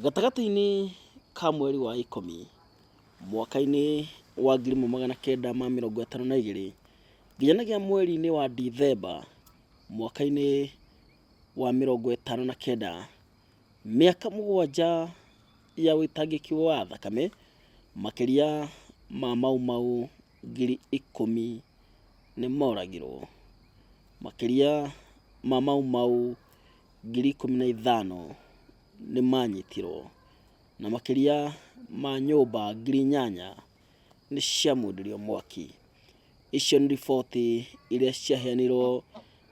Gatagatĩ-inĩ ka mweri wa ikũmi mwaka-inĩ wa 1952 nginyanagia mweri-inĩ wa Dithemba mwaka-inĩ wa 59, mĩaka mũgwanja ya ũitangĩki wa thakame, makĩria ma Mau Mau ngiri ikũmi nĩ moragirwo. Makĩria ma Mau Mau. ngiri ikũmi na ithano nĩ maanyitirũo, na makĩria ma nyũmba ngiri inyanya nĩ ciamũrĩrũo mwaki. Icio nĩ riboti iria ciaheanirũo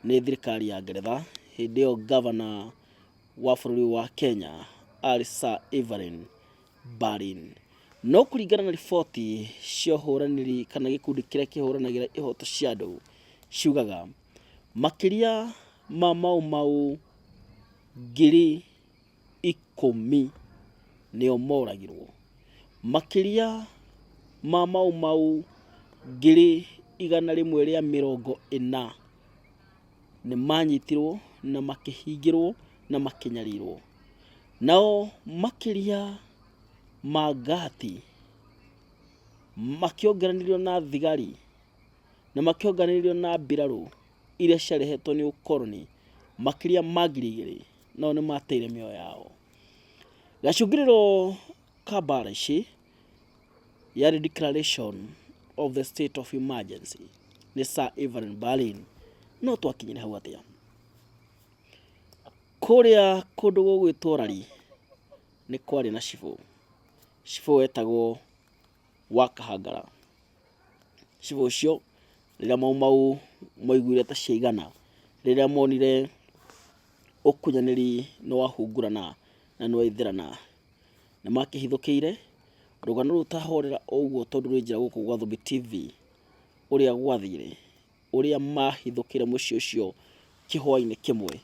nĩ thirikari ya Ngeretha. Hĩndĩ ĩyo ngavana wa bũrũri ũyũ wa Kenya aarĩ Sir Evelyn Baring. No kũringana na riboti cia ũhũranĩri kana gĩkundi kĩrĩa kĩhũranagĩra ihoto cia andũ, ciugaga Makĩria ma Mau Mau ngiri ikũmi nĩo moragirwo. Makĩria ma Mau Mau ngiri igana rĩmwe rĩa mĩrongo ĩna nĩ manyitirwo na makĩhingĩrwo na makĩnyarirwo. Nao makĩria ma ngahati makĩongeranirio na thigari. na makĩonganĩrĩrio na mbirarũ iria ciarehetwo nĩ ũkoroni makĩria ma ngiri igĩrĩ nao nĩ mateire mĩoyo yao. Gacũngĩrĩro ka mbara ici yarĩ declaration of the state of emergency nĩ Sir Evelyn Berlin no twakinyire hau atĩa? Kũrĩa kũndũ gũgwĩtwo Rari nĩ kwarĩ na cibũ, cibũ wetagwo Wakahangara. Cibũ ũcio rĩrĩa mau mau maiguire ta ciaigana, rĩrĩa monire ũkunyanĩri nĩ wahungurana na nĩ waithĩrana, nĩ makĩhithũkĩire rũgano rũu ta horera o ũguo tondũ rwĩ njĩra gũkũ gwa Thũmbĩ TV, ũrĩa gwathire, ũrĩa mahithũkĩire mũciĩ ũcio kĩhwainĩ kĩmwe.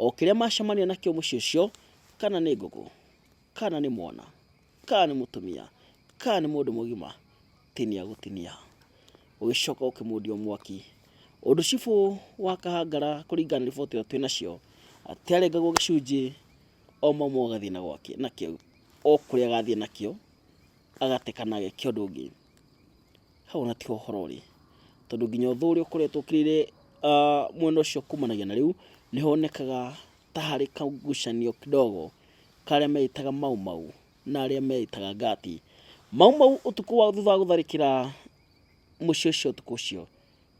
O kĩrĩa macemania nakĩo mũciĩ ũcio, kana nĩ ngũkũ. kana nĩ mwana, kana nĩ mũtumia, kana nĩ mũndũ mũgima, tinia gũtinia. Ũgĩcoka ũkĩmũdia o mwaki. Ũndũ cibũ wa Kahangara kũringana na riboti ĩrĩa twĩ nacio, atĩ arengagwo gĩcunjĩ o mama agathiĩ na gwake nakĩo, o kũrĩa agathiĩ nakĩo, agate kana ageke ũndũ ũngĩ. Hau ona tiho ũhoro ũrĩ, tondũ nginya ũthũ ũrĩa ũkoretwo ũkĩrĩire mwena ũcio kumanagia na rĩu, nĩ honekaga ta harĩ kagucanio kidogo karĩa meĩtaga Mau Mau na arĩa meĩtaga Ngati. Mau Mau ũtukũ wa thutha wa gũtharĩkĩra mũciĩ ũcio ũtukũ ũcio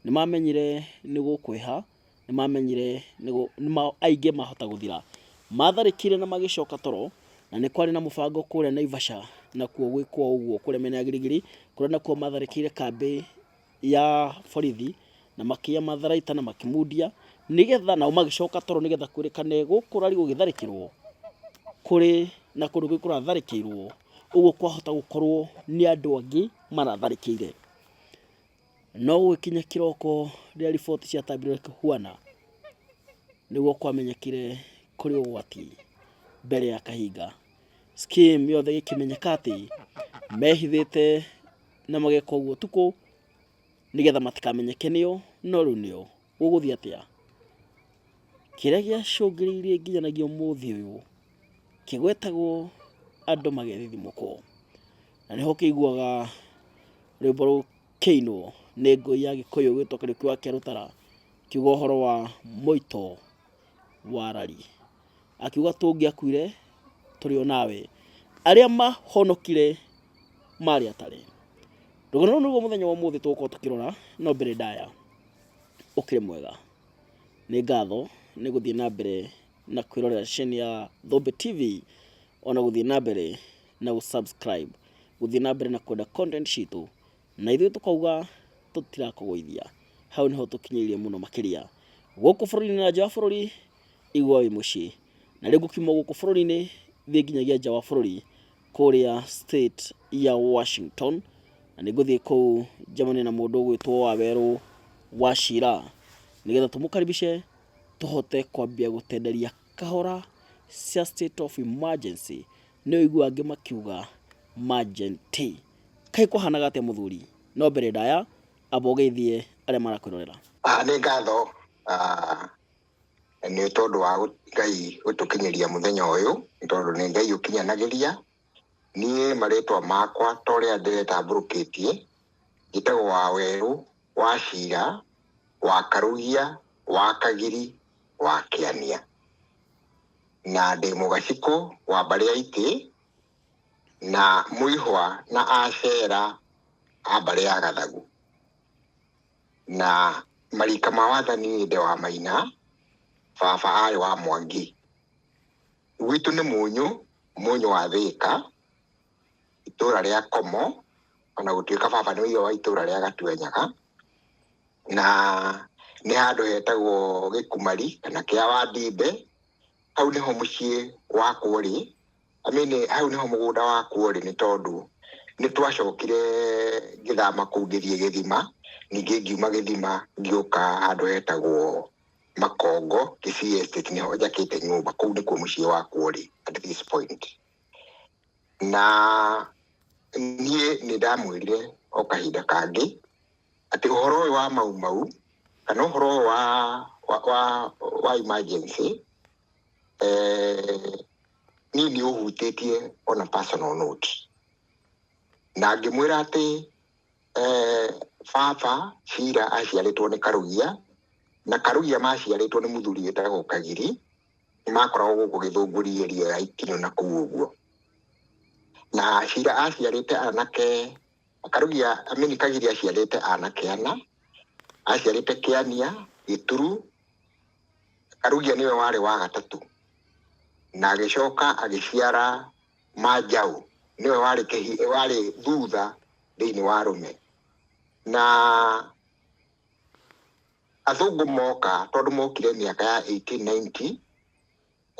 nĩ mamenyire nĩ gũkwĩha nĩ mamenyire nĩ gũ- nĩ ma- aingĩ mahota gũthira matharĩkire na magĩcoka toro na nĩ kwarĩ na mũbango kũrĩa naivasha nakuo gwĩkwo ũguo kũrĩa mĩena ya girigiri kũrĩa nakuo matharĩkĩire kambĩ ya borithi na makĩya matharaita na makĩmundia nĩgetha nao magĩcoka toro nĩgetha kwĩrĩkane gũkũ rari gũgĩtharĩkĩrwo kũrĩ na kũndũ kũu kũratharĩkĩirwo ũguo kwahota gũkorwo nĩ andũ angĩ maratharĩkĩire no gũgĩkinya kĩroko rĩrĩa riboti ciatambire kũhuana nĩguo kwamenyekire kũrĩ ũgwati mbere ya kahinga skim yothe gĩkĩmenyeka atĩ mehithĩte na mageka ũguo ũtukũ nĩgetha matikamenyeke nĩo, no rĩu nĩo. Gũgũthiĩ atĩa? Kĩrĩa gĩacũngĩrĩirie nginyanagia ũmũthĩ ũyũ kĩgwetagwo andũ magethithimũkwo, na nĩho ũkĩiguaga rwĩmbo rũkĩinwo nĩ ngũi ya gĩkũyũ ĩgwĩtwo Kariũki wa Kĩarũtara, ĩkiuga ũhoro wa mũito wa rari. akiuga tũngĩakuire tũrĩ o nawe arĩa mahonokire marĩ atarĩ rũgano rũu nĩguo mũthenya wa ũmũthĩ tũgũkorwo tũkĩrora no mbere ndaya ũkĩrĩ mwega nĩ ngatho nĩ gũthiĩ na mbere na kwĩrorera ceni ya Thombe TV ona gũthiĩ na mbere na gũsubscribe gũthiĩ na mbere na kwenda content citũ na ithuĩ tũkauga tũtirakũgũithia hau nĩho tũkinyĩirie mũno makĩria gũkũ bũrũri-inĩ na nja bũrũri Iguai mũciĩ. Na rĩu gũkimwo gũkũ bũrũri-inĩ thiĩ nginyagia nja wa bũrũri kũrĩa state ya Washington, na nĩ ngũthiĩ kũu njemanie na mũndũ ũgwĩtwo Wawerũ Wachira, nĩgetha tũmũkaribishe tũhote kwambia gũtenderia kahora cia state of emergency, nĩ ũigua angĩ makiuga manjenti. Kaĩ kwahanaga atĩa mũthuri? No mbere ndaya, amba ũgeithie arĩa marakwĩrorera. Ah, nĩ ngatho ah, nĩ tondũ wa Ngai gũtũkinyĩria mũthenya ũyũ, nĩ tondũ nĩ Ngai ũkinyanagĩria. Niĩ marĩtwa makwa ta ũrĩa ndĩretambũrũkĩtie, njĩtagwo Wawerũ, Wachira, Wakarugia, Wakagiri, Wakĩania. Na ndĩ mũgacikũ wa mbarĩ ya itĩ, na mũihwa na acera a mbarĩ ya gathagu. na marika ma wathani nĩ nde wa maina baba arĩ wa mwangi gwitũ nĩ mũnyũ mũnyũ wa thĩka itũra rĩa komo ona gũtuĩka baba nĩ ũire wa itũra rĩa gatuenyaga na nĩ handũ hetagwo gĩkumari kana kĩa wandimbe hau nĩho mũciĩ wakwo rĩ I mean hau nĩho mũgũnda wakwo rĩ nĩ tondũ nĩ twacokire ngĩthama kũu ngĩthiĩ gĩthima ningĩ ngiuma gĩthima ngĩũka handũ hetagwo makongo Kisii estate nĩho njakĩte nyũmba kũu nĩkuo mũciĩ wakwo rĩ at this point na niĩ nĩ ndamwĩrire o kahinda kangĩ atĩ ũhoro ũyũ wa mau mau kana ũhoro ũyũ wa wa wa emergency eh, niĩ nĩ ũhutĩtie on a personal note na ngĩmwĩra atĩ eh, baba cira aciarĩtwo nĩ karugia na karugia maciarĩtwo nĩ mũthuri wĩtagwo kagiri nĩ makoragwo gũkũ gĩthũngũri area ya ikinyo na kũu ũguo na cira aciarĩte anake karugia amini kagiri aciarĩte anake ana aciarĩte kĩania gĩturu Karugia nĩwe warĩ wa gatatũ, na agĩcoka agĩciara Manjaũ, nĩwe warĩ kĩhĩ- warĩ thutha thĩiniĩ wa arũme. Na athũngũ moka, tondũ mokire mĩaka ya 1890,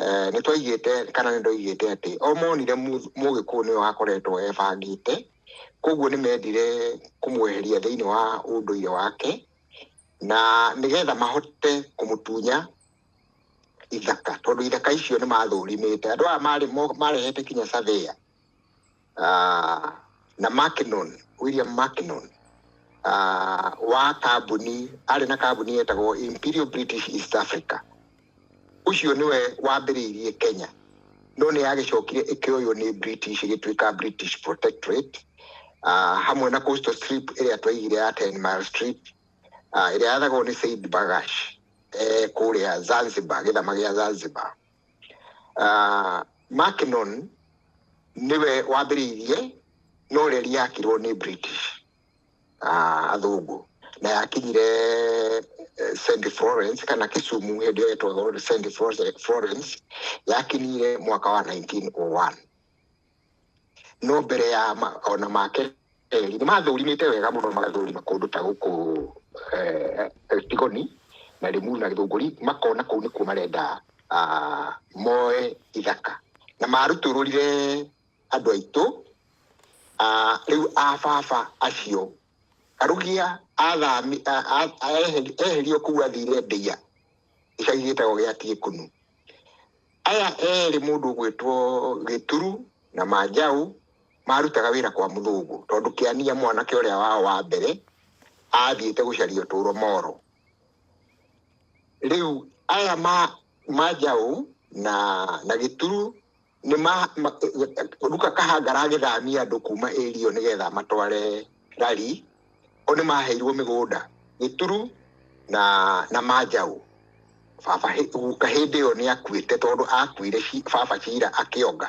Eh, nĩ twaigĩte kana nĩ ndoigĩte atĩ o monire Mu- mũgĩkũyũ nĩwe wakoretwo ebangĩte koguo nĩ mendire kũmweheria thĩinĩ wa ũndũire wake na nĩgetha mahote kũmũtunya ithaka tondũ ithaka icio nĩ mathũrimĩte andũ aya marĩ mo- marehete kinya cathĩa ah, na Mackinon William Mackinon ah, wa kambuni arĩ na kambuni yetagwo Imperial British East Africa ũcio nĩwe wambĩrĩirie Kenya no nĩ yagĩcokire ĩkĩoywo nĩ British ĩgĩtuĩka British Protectorate ah, hamwe na coastal strip ĩrĩa twaigire ya 10 mile strip ah, ĩrĩa yathagwo nĩ Said Bagash eh, kũrĩa Zanzibar gĩthama gĩa Zanzibar Ah, Mackinon nĩwe wambĩrĩirie no reri yakirwo nĩ British ah, athũngũ na yakinyire eh, St Florence kana Kisumu hĩndĩ ĩyo yetagwo St Florence yakinyire mwaka wa 1901 no mbere ya ma ona ma kerĩ nĩ mathũrimĩte wega mũno magathũrima kũndũ ta gũkũ eh, eh, Tigoni na Rĩmu na Gĩthũngũri makona kũu nĩkuo marenda ah, moe ithaka na marutũrũrire andũ aitũ ah, rĩu a baba acio Karugia athami a- a- a- eheri- eherio kũu athire Ndeia gĩcagi gĩtagwo gĩa Tiĩkũnu. Aya erĩ mũndũ ũgwĩtwo Gĩturu na Manjaũ marutaga wĩra kwa mũthũngũ tondũ Kĩania mwanake ũrĩa wao wa mbere athiĩte gũcaria ũtũũro Moro. Rĩu aya ma Manjaũ na na Gĩturu nĩ ma, ma, Ruka Kahanga aragĩthamia andũ kuma area nĩ getha matware rari o nĩ maheirwo mĩgũnda gĩturu na na manjaũ baba hĩ- guka hĩndĩ ĩyo nĩ akuĩte tondũ akuire ci- baba cira akĩonga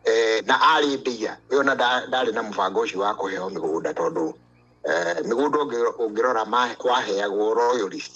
eh, na arĩ ndia we ona nda- ndarĩ na mũbango ũcio wa kũheo mĩgũnda tondũ eh, mĩgũnda ũngĩ- ũngĩrora ma- waheagwo royalist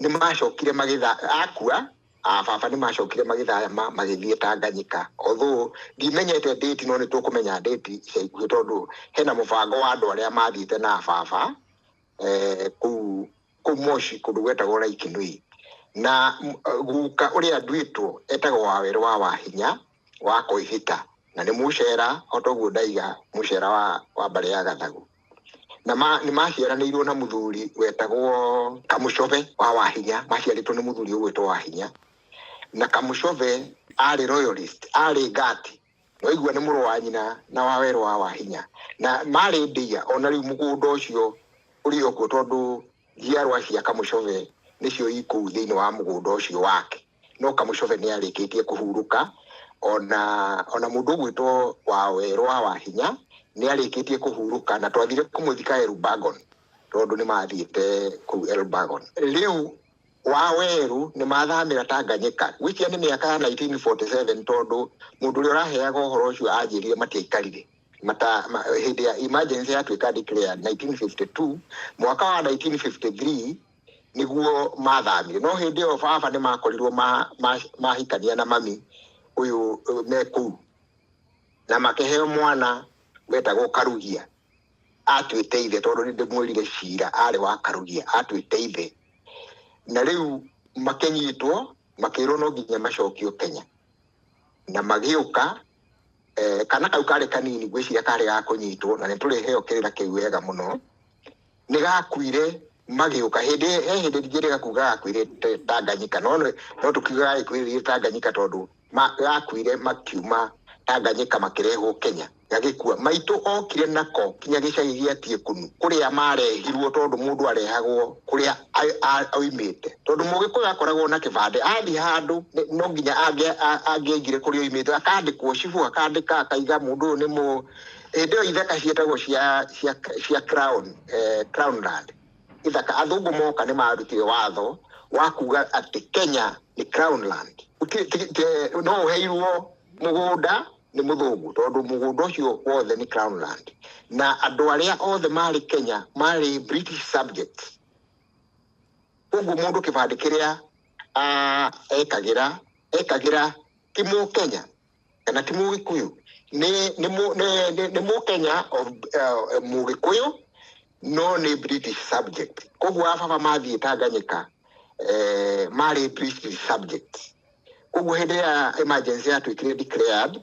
nĩ macokire magĩtha akua ah, baba nĩ macokire magĩthayama magĩthiĩ tanganyika although ndimenyete ndĩti no nĩ tũkũmenya ndĩti ica ikuhĩ tondũ hena mũbango wa andũ arĩa mathiĩte na baba eh, kũu kũu moshi kũndũ gwetagwo laikinui na m- guka ũrĩa nduĩtwo etagwo wawerũ wa wahinya wa koihita na nĩ mũcera o toguo ndaiga mũcera wa, wa mbarĩ ya gathagu na ma, nĩ maciaranĩirwo na mũthuri wetagwo kamũcove wa wahinya maciarĩtwo nĩ mũthuri ũgwĩtwo wahinya na kamũcove arĩ royalist arĩ ngati waigua nĩ mũrũ wa nyina na wa werũ wa wahinya na marĩ ndia ona rĩu mũgũnda ũcio ũrĩ okuo tondũ njiarwa cia kamũcove nĩcio ikũu thĩinĩ wa mũgũnda ũcio wake no kamũcove nĩ arĩkĩtie kũhurũka, o na o na mũndũ ũgwĩtwo wawerũ wa wahinya nĩ arĩkĩtie kũhurũka, na twathire kũmũthika Elbagon, tondũ nĩ mathiĩte kũu Elbagon. Rĩu wawerũ nĩ mathamĩra Tanganyika, ngwĩciria nĩ mĩaka ya 1947, tondũ mũndũ ũrĩa ũraheaga ũhoro ũcio anjĩrire matiaikarire mata, ma, hĩndĩ ya emergency yatuĩka declared 1952, mwaka wa 1953 nĩguo mathamio no hĩndĩ ĩyo baba nĩ makorirwo ma- ma- mahikania na mami ũyũ ũyũ me kũu na makĩheo mwana wetagwo karugia atuĩte ithe tondũ nĩ ndĩmwĩrire cira arĩ wa karugia atuĩte ithe na rĩu makĩnyitwo makĩrwo no nginya macokio kenya na magĩũka eh, kana kau karĩ kanini gwĩciria karĩ ga kũnyitwo na nĩ tũrĩheo kĩrĩra kĩu wega mũno nĩ gakuire magĩũka hĩndĩ he hĩndĩ ndingĩrĩga kuga gakuire te- tanganyika no nĩ- no tũkiuga gagĩkuire tanganyika tondũ ma- gakuire makiuma tanganyika makĩrehwo kenya gagĩkua maitũ okire nako kinya gĩcagi gĩa tiekunu kũrĩa marehirwo tondũ mũndũ arehagwo kũrĩa a- a- oimĩte tondũ mũgĩkũyũ akoragwo na kĩbandĩ athiĩ handũ nĩ- no nginya angĩ- a- angĩaigire kũrĩa oimĩte akandĩkwo cibũ akandĩka akaiga mũndũ ũyũ nĩ mũ hĩndĩ ĩyo ithaka ciĩtagwo cia cia cia crown eh, crown land ithaka athungu moka nĩ marutire watho wa kuga atĩ kenya nĩ crown land Ti- ti- ti- no ũheirwo mũgũnda nĩ mũthũngũ tondũ mũgũnda ũcio wothe nĩ crown land na andũ arĩa othe marĩ kenya marĩ british subjects koguo mũndũ kĩbandĩ kĩrĩa ah, ekagĩra ekagĩra ti mũkenya kana ti mũgĩkũyũ nĩ nĩ mũ- nĩ- nĩ- nĩ mũkenya of, uh, mũgĩkũyũ no nĩ british subject koguo ababa mathiĩ tanganyika eh, marĩ british subject koguo hĩndĩ ya emergency yatuĩkire declared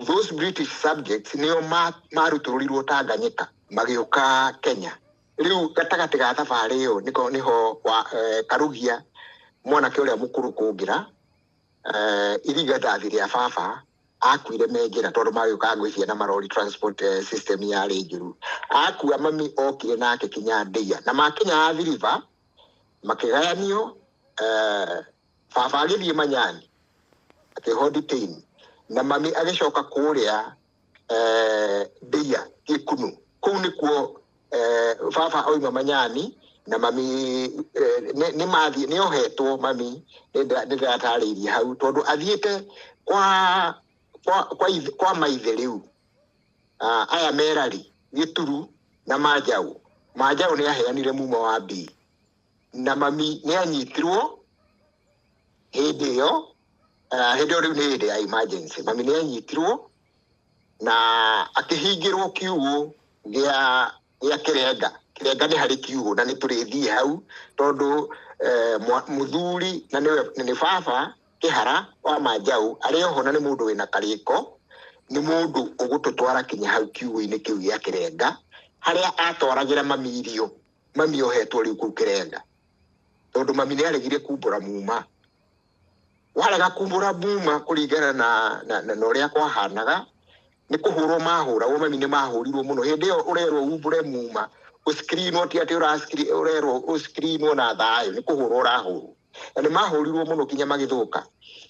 those british subjects nĩo ma- marutũrũrirwo tanganyika magĩũka kenya rĩu gatagatĩ ga thabarĩ ĩyo nĩko nĩho wa, eh, karugia mwanake ũrĩa mũkũrũ kũngĩra eh, irigadathi rĩa baba akuire me njĩra tondũ magĩũkaga gwĩ ciana marori transport eh, system yarĩ njũru akua mami okire nake kinya ndeia na makinya athiriva makĩgayanio eh, baba agĩthiĩ manyani akĩho detain na mami agĩcoka kũrĩa eh, ndeia gĩkunũ kũu nĩkuo eh, baba oima manyani na mami eh, nĩ nĩ mathiĩ nĩ ohetwo mami nĩ ndĩra- nĩ ndĩratarĩirie hau tondũ athiĩte kwa kwa kwa, ithe, kwa maithe rĩu Ah, aya merari gĩturu na manjaũ manjaũ nĩ aheanire muma wa mbii na mami nĩ anyitirwo hĩndĩ ĩyo Ah, hĩndĩ ĩyo rĩu nĩ hĩndĩ ya emergency mami nĩ anyitirwo na akĩhingĩrwo kiugũ gĩa gĩa kĩrenga kĩrenga nĩ harĩ kiugũ na nĩ tũrĩthiĩ hau tondũ eh, mwa- mũthuri na nĩwe- na nĩ baba kĩhara wa manjaũ arĩ oho na nĩ mũndũ wĩna karĩko nĩ mũndũ ũgũtũtwara kinya hau kiugũ-inĩ kĩu gĩa kĩrenga harĩa atwaragĩra mami irio mami ohetwo rĩu kũu kĩrenga tondũ mami nĩ aregire kumbũra muma warega kumbũra mbuma kũringana na na na na ũrĩa kwahanaga nĩ kũhũrwo mahũragwo mami nĩ mahũrirwo mũno hĩndĩ ĩyo ũrerwo umbũre muma ũskrinwo ti atĩ ũraskri- ũrerwo ũskrinwo na thayũ nĩ kũhũrwo ũrahũrwo na nĩ mahũrirwo mũno kinya magĩthũka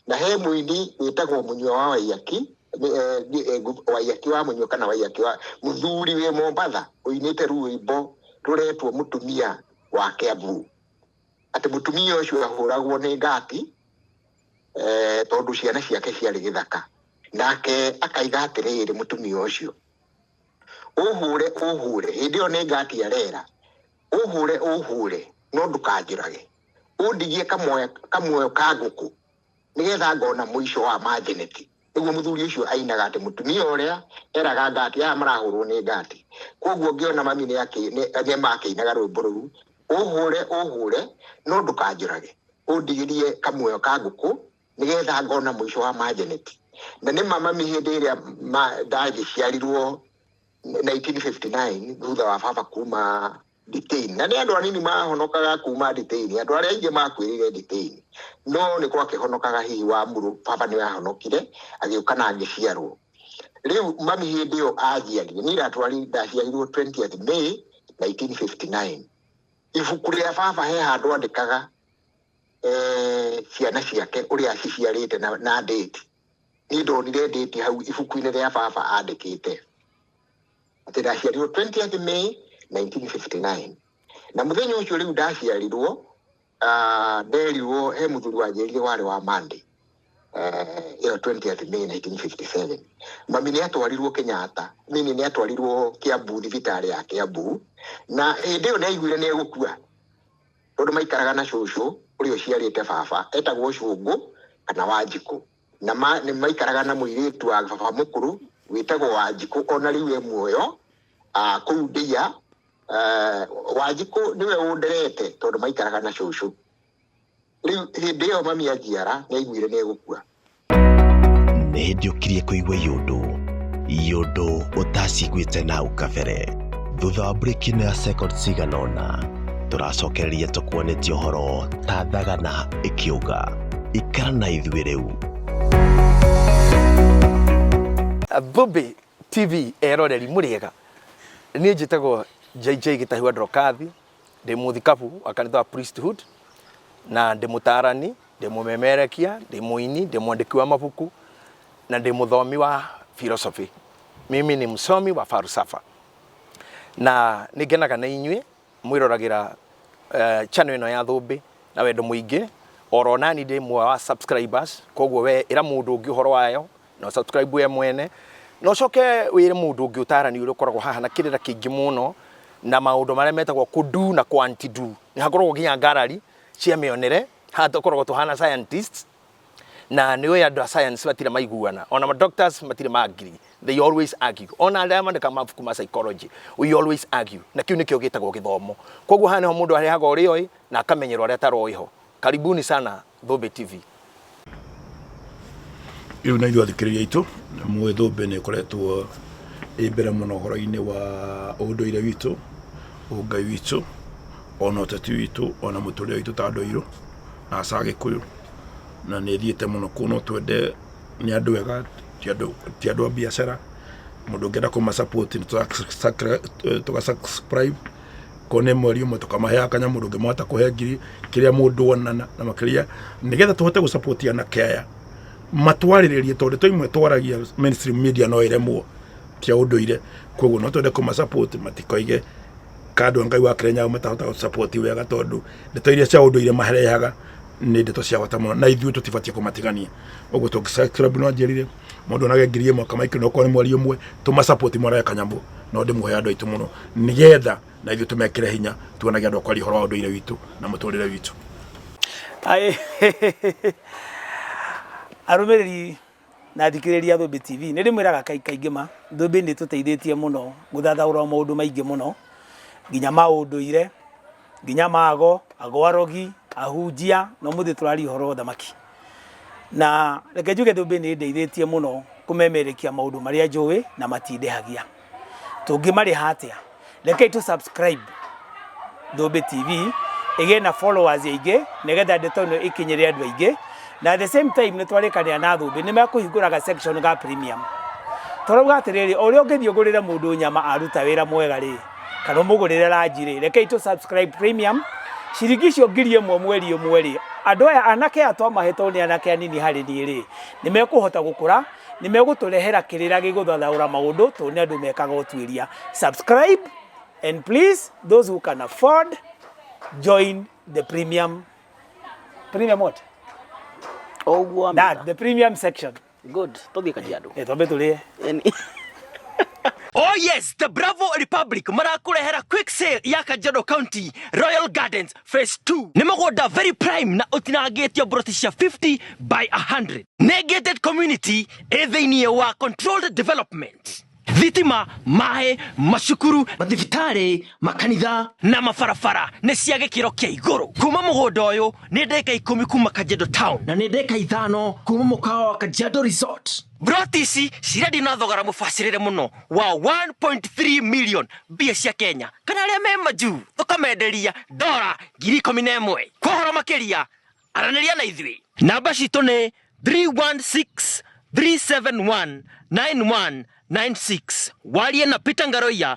na he mũini wĩtagwo mũnyua wa waiyaki nĩ- eh, nĩ- eh, ngu- waiyaki wa mũnyua kana waiyaki wa mũthuri wĩ mombatha ũinĩte rwĩmbo rũretwo mũtumia wa kĩambu atĩ mũtumia ũcio ahũragwo nĩ ngati eh, tondũ ciana ciake ciarĩ gĩthaka nake akaiga atĩrĩrĩ mũtumia ũcio ũhũre ũhũre hĩndĩ ĩyo nĩ ngati arera ũhũre ũhũre no ndũkanjũrage ũndigie kamuoyo kamuoyo ka ngũkũ nĩgetha ngona mũico wa manjeneti Nĩguo mũthuri ũcio ainaga atĩ mũtumia ũrĩa eraga Gati aya marahũrwo nĩ Gati. Kwoguo ngĩona mami nĩ akĩinaga rwĩmbo rũu, Ũhũre, ũhũre, no ndũkanjũrage, ũndigĩrie kamuoyo ka ngũkũ, nĩgetha ngona mũico wa Majeneti. Na nĩ ma mami hĩndĩ ĩrĩa ndagĩciarirwo, 1959 thutha wa baba kuma nditĩini na nĩ andũ anini mahonokaga kuma nditĩini andũ arĩa aingĩ makuĩrĩire nditĩini no nĩ gwakĩhonokaga hihi wa muru baba nĩ ahonokire agĩũka na agĩciarwo rĩu mami hĩndĩ ĩyo ajiarire nĩ iratwari ndaciarirwo 20th May 1959 ibuku rĩa baba he handũ andĩkaga eh, ciana ciake ũrĩa aciciarĩte na, na date Niĩ ndonire ndĩti hau ibuku-inĩ rĩa baba andĩkĩte atĩ ndaciarirwo 20th May 1959 na mũthenya ũcio rĩu ndaciarirwo ah, nderirwo he mũthuri wanjĩrire warĩ wa Monday eh, ĩyo 20th May 1957 mami nĩ atwarirwo Kenyatta mimi nĩ atwarirwo Kiambu thibitarĩ ya Kiambu na hĩndĩ ĩyo nĩ aiguire nĩ egũkua tondũ maikaraga na cũcũ ũrĩa ũciarĩte baba etagwo cũngũ kana wanjikũ na ma, nĩ maikaraga na mũirĩtu wa baba mũkũrũ wĩtagwo wanjikũ ona rĩu e muoyo ah, kũu ndia eh, wanjikũ nĩwe ũnderete tondũ maikaraga na cũcũ rĩu hĩndĩ ĩyo mami anjiara nĩ aiguire nĩ egũkua nĩ hĩndĩ ũkirie kũigua yũndũ yũndũ ũtaciguĩte na hau kabere thutha wa mburĩki ĩno ya second cigana ũna tũracokereria tũkuonetie ũhoro ta thagana ĩkĩũga ikara na ithuĩ rĩu Bobe TV eroreri mũrĩega niĩ njĩtagwo JJ Gĩtahiwa Ndrokathi ndĩ mũthikabu wa kanitha wa Priesthood na ndĩ mũtaarani Ndĩ mũmemerekia, ndĩ mũini, ndĩ mwandĩki wa mabuku, na ndĩ mũthomi wa philosophy. Mimi ni msomi wa falsafa. Na nĩ ngenaga na inyuĩ mwĩroragĩra eh, channel ĩno ya Thũmbĩ na wendo mũingĩ. Oro nani ndĩ mwe wa subscribers, koguo we ĩra mũndũ ũngĩ ũhoro wayo na ũ subscribe we mwene na ũcoke wĩre mũndũ ũngĩ ũtarani ũrĩa ũkoragwo haha na kĩrĩra kĩingĩ mũno na maũndũ marĩa metagwo kũndu na kwantidu. Nĩ hakoragwo nginya ngarari cia mĩonere haha tokoragwo tũhana scientists na nĩ ũĩ andũ a science matirĩ maiguana ona ma doctors matirĩ ma agree they always argue ona arĩa mandĩka mabuku ma psychology we always argue na kĩu nĩkĩo gĩtagwo gĩthomo koguo haha nĩho mũndũ arehaga ũrĩa oĩ na akamenyerwo arĩa ataroĩ ho karibuni sana Thũmbĩ TV rä u na ithuä athikä rä ria aitå mwä thå mbä nä koretwo ä mbere må no å horo-inä wa å ndå ire witå å ngai witå ona ũteti witũ ona mũtũrĩre witũ ta andũ airũ na aca agĩkũyũ na nĩ thiĩte mũno kũu no twende nĩ andũ ega ti andũ ti andũ a biacara mũndũ ũngĩenda kũma support nĩ tũra- sacri- eh, tũga subscribe ko nĩ mweri ũmwe tũkamaheaga kanya mũndũ ũngĩ mahota kũhe ngiri kĩrĩa mũndũ onana na makĩria nĩgetha tũhote gũcapotia na kaya matwarĩrĩrie tondũ to imwe twaragia mainstream media no ĩremwo cia ũndũire koguo no twende kũma support matikoige kandwa ngai wa kĩrĩnyaga matahota gũ support wega tondũ ndeto iria cia ũndũire marehaga nĩ ndeto cia bata mũno na ithuĩ tũtibatiĩ kũmatigania ũguo tũngĩ subscribe no anjĩrire mũndũ onage ngiri ĩmwe kama ikĩrĩ okorwo nĩ mweri ũmwe tũma support mwaraya kanyamũ no ndĩmũhe andũ aitũ mũno nĩgetha na ithuĩ tũmekĩre hinya tuonage andũ akwaria ũhoro wa ũndũire witũ na mũtũrĩre witũ Aĩ- arũmĩrĩri na athikĩrĩria Thũmbĩ TV. Nĩ ndĩmwĩraga kaingĩ kaingĩ ma, Thũmbĩ nĩ ĩtũteithĩtie mũno gũthathaũra maũndũ maingĩ mũno, nginya ma ũndũire, nginya ma ago, ago arogi, ahunjia, na ũmũthĩ tũraria ũhoro wa ũthamaki. Na reke njuge Thũmbĩ nĩ ĩndeithĩtie mũno kũmemerekia maũndũ marĩa njũĩ na matindehagia. tũngĩmarĩha atĩa rekei tũ subscribe Thũmbĩ TV ĩgĩe na followers aingĩ nĩgetha ndeto ĩno ĩkinyĩre andũ aingĩ na at the same time nĩ twarĩkanĩra na Thũmbĩ nĩ mekũhingũraga section ga premium tũrauga atĩrĩrĩ ũrĩa ũngĩthiĩ ũgũrĩre mũndũ nyama aruta wĩra mwega rĩ kana ũmũgũrĩre ranji rĩ rekei tũ subscribe premium ciringi icio ngiri ĩmwe mweri ĩmwe rĩ andå aya anake aya twamahetwo nä anake anini harä niä rä nä mekå hota gå kå ra Nĩ megũtũrehera kĩrĩra gĩgũthathaũra maũndũ tondũ nĩ andũ mekaga ũtuĩria. Subscribe and please those who can afford join the premium premium what? O ũguo wa That mĩaka. the premium section. Good. Tũthiĩ Kajiado. Eh twambe tũrĩe. Yaani- Oh yes, the Bravo Republic marakũrehera quick sale ya Kajiado County Royal Gardens phase 2 nĩ mũgũnda very prime na ũtinangĩtio broti cia 50 by 100 nĩ gated community ĩ thĩinĩ wa controlled development thitima maĩ macukuru mathibitarĩ makanitha na mabarabara nĩ cia gĩkĩro kĩa igũrũ kuma mũgũnda ũyũ nĩ ndĩka ikũmi kuma kanjendo town na nĩ ndĩka ithano kuma mũkawa wa kanjendo resort Broti ici cirendio na thogora mũbacĩrĩre mũno wa 1.3 million mbia cia Kenya kana arĩa me majuu tũkamenderia dora ngiri ikũmi na ĩmwe kwa ũhoro makĩria aranĩria na ithuĩ namba citũ nĩ 316 371 9196 warie na Peter Ngaroia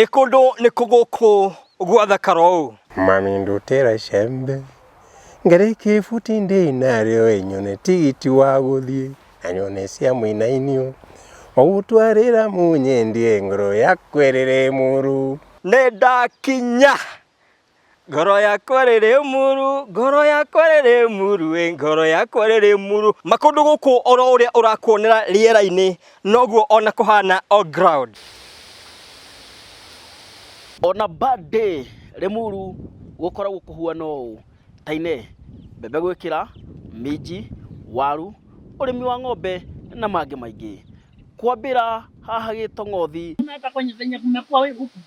Ĩ kũndũ nĩ kũ gũkũ gwathakara ũũ? Mami ndutĩra icembe ngari kĩbuti ndĩnarĩo ĩnyone tigiti wa gũthiĩ na nyone cia mũinainio ũgũtwarĩra mũnyendie ngoro yakwa ĩrĩrĩ mũrũ. Nĩndakinya Ngoro yakwa rĩrĩ muru, ngoro yakwa rĩrĩ muru, ĩ ngoro yakwa rĩrĩ muru. Makũndũ gũkũ oro ũrĩa ũrakuonera rĩera-inĩ noguo ona kũhana on ground. Ona bad day Limuru gũkoragwo kũhuana ũũ, Tainee, mbembe gwĩkĩra, minji, waru, ũrĩmi wa ng'ombe na mangĩ maingĩ. Kwambĩra haha Gĩtong'othi, Hata kwenye zenye kumekuwa we huku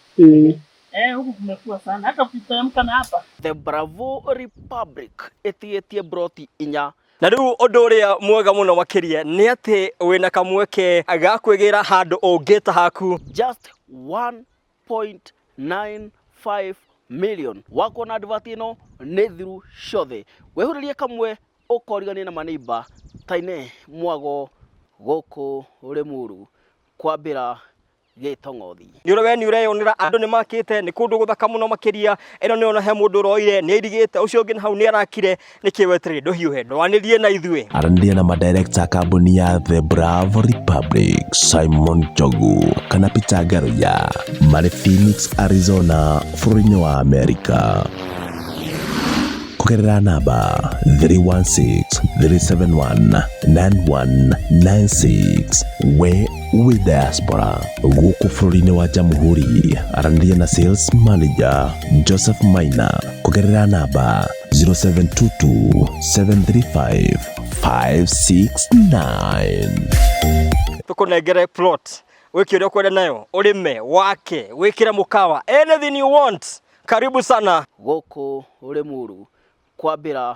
Eh, huku kumekuwa sana, hata ukiteremka na hapa The Bravo Republic ĩtigĩtie broti inya na rĩu ũndũ ũrĩa mwega mũno makĩria nĩ atĩ wĩna kamweke ga kwĩgĩra handũ ũngĩta haku just 1.95 million wako na advert ĩno nĩ thiru ciothe wehurĩrie kamwe ũkorigania na maneiba taine mwago gũkũ rĩmuru kwambĩra gĩtong'othi. Nĩ ũrĩ we nĩ ũreyonera andũ nĩ makĩte nĩ kũndũ gũthaka mũno makĩria ĩno nĩ ona he mũndũ ũroire nĩ airigĩte ũcio ũngĩ na hau nĩ arakire nĩkĩ weterĩ ndũhiũhe ndwanĩrie na ithuĩ. Aranĩria na madirekta a kambuni ya The Bravo Republic, Simon Njogu kana Peter Ngaruya marĩ Phoenix, Arizona bũrũri-inĩ wa Amerika kũgerera namba 316 371 9196 we wĩ diaspora gũkũ bũrũri-inĩ wa jamhuri aranĩria na sales manager joseph maina kũgerera namba 0722735569 tũkũnengere plot wĩke ũrĩa ũkwenda nayo ũrĩme wake wĩkĩre mũkawa anything you want karibu sana gũkũ Rĩmuru kwambĩra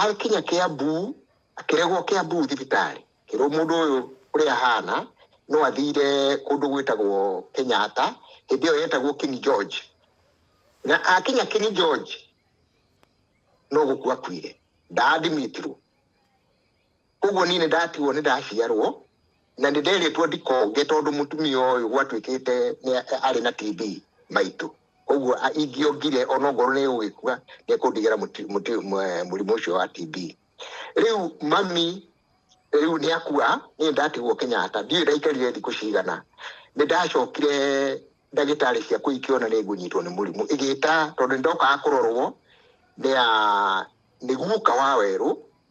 akinya kiambu akĩregwo kiambu thibitarĩ kĩrwo mũndũ ũyũ ũrĩa ahana no athire kũndũ gwĩtagwo kenyatta hĩndĩ ĩyo yetagwo king george na akinya king george no gũkua akuire ndaadimitirwo koguo niĩ nĩ ndatigwo nĩ ndaciarwo na nĩ nderĩtwo ndikonge tondũ mũtumia ũyũ gwatuĩkĩte nĩ- arĩ na TB maitũ koguo a- ingĩongire onokorwo nĩ gũgĩkua nĩ kũndigĩra mũti- mũti- mwe- mũrimũ ũcio wa TB rĩu mami rĩu nĩ akua niĩ nĩ ndatigwo kenyatta ndiũĩ ndaikarire thikũ cigana nĩ ndacokire ndagĩtarĩ ciakwa ikĩona nĩ ngũnyitwo nĩ mũrimũ igĩta tondũ nĩ ndokaga kũrorwo nĩ a- nĩ guka wa werũ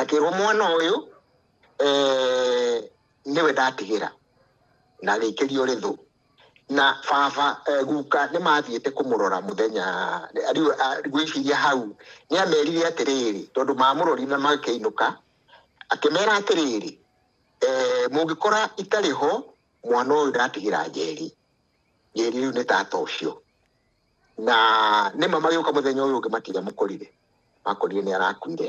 akĩrwo mwana ũyũ eh, nĩwe ndatigĩra na agĩikĩrio rĩthũ na baba eh, guka nĩ mathiĩte kũmũrora mũthenya rĩu ah, ngwĩciria hau nĩ amerire atĩrĩrĩ tondũ mamũrori na makĩinũka akĩmera atĩrĩrĩ eh, mũngĩkora itarĩ ho mwana ũyũ ndatigĩra njeri njeri rĩu nĩ tata ũcio na nĩma magĩũka mũthenya ũyũ ũngĩ matiga mũkorire makorire nĩ arakuire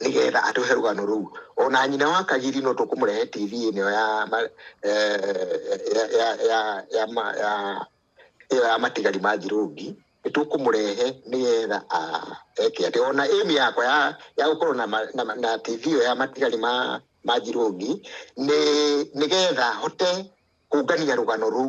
nĩgetha atũhe rũgano rũu ona nyina wa kagiri no tũkũmũrehe tv ĩno ya ma- eh, ya- ya- ya- ya ma- ya- ĩyo ya matigari ma thirũngi nĩ tũkũmũrehe nĩgetha ah, eke atĩ ona ĩmi yakwa ya ya gũkorwo na ma- na ma- na tv ĩyo ya matigari ma ma thirũngi nĩ nĩgetha hote kũngania rũgano rũu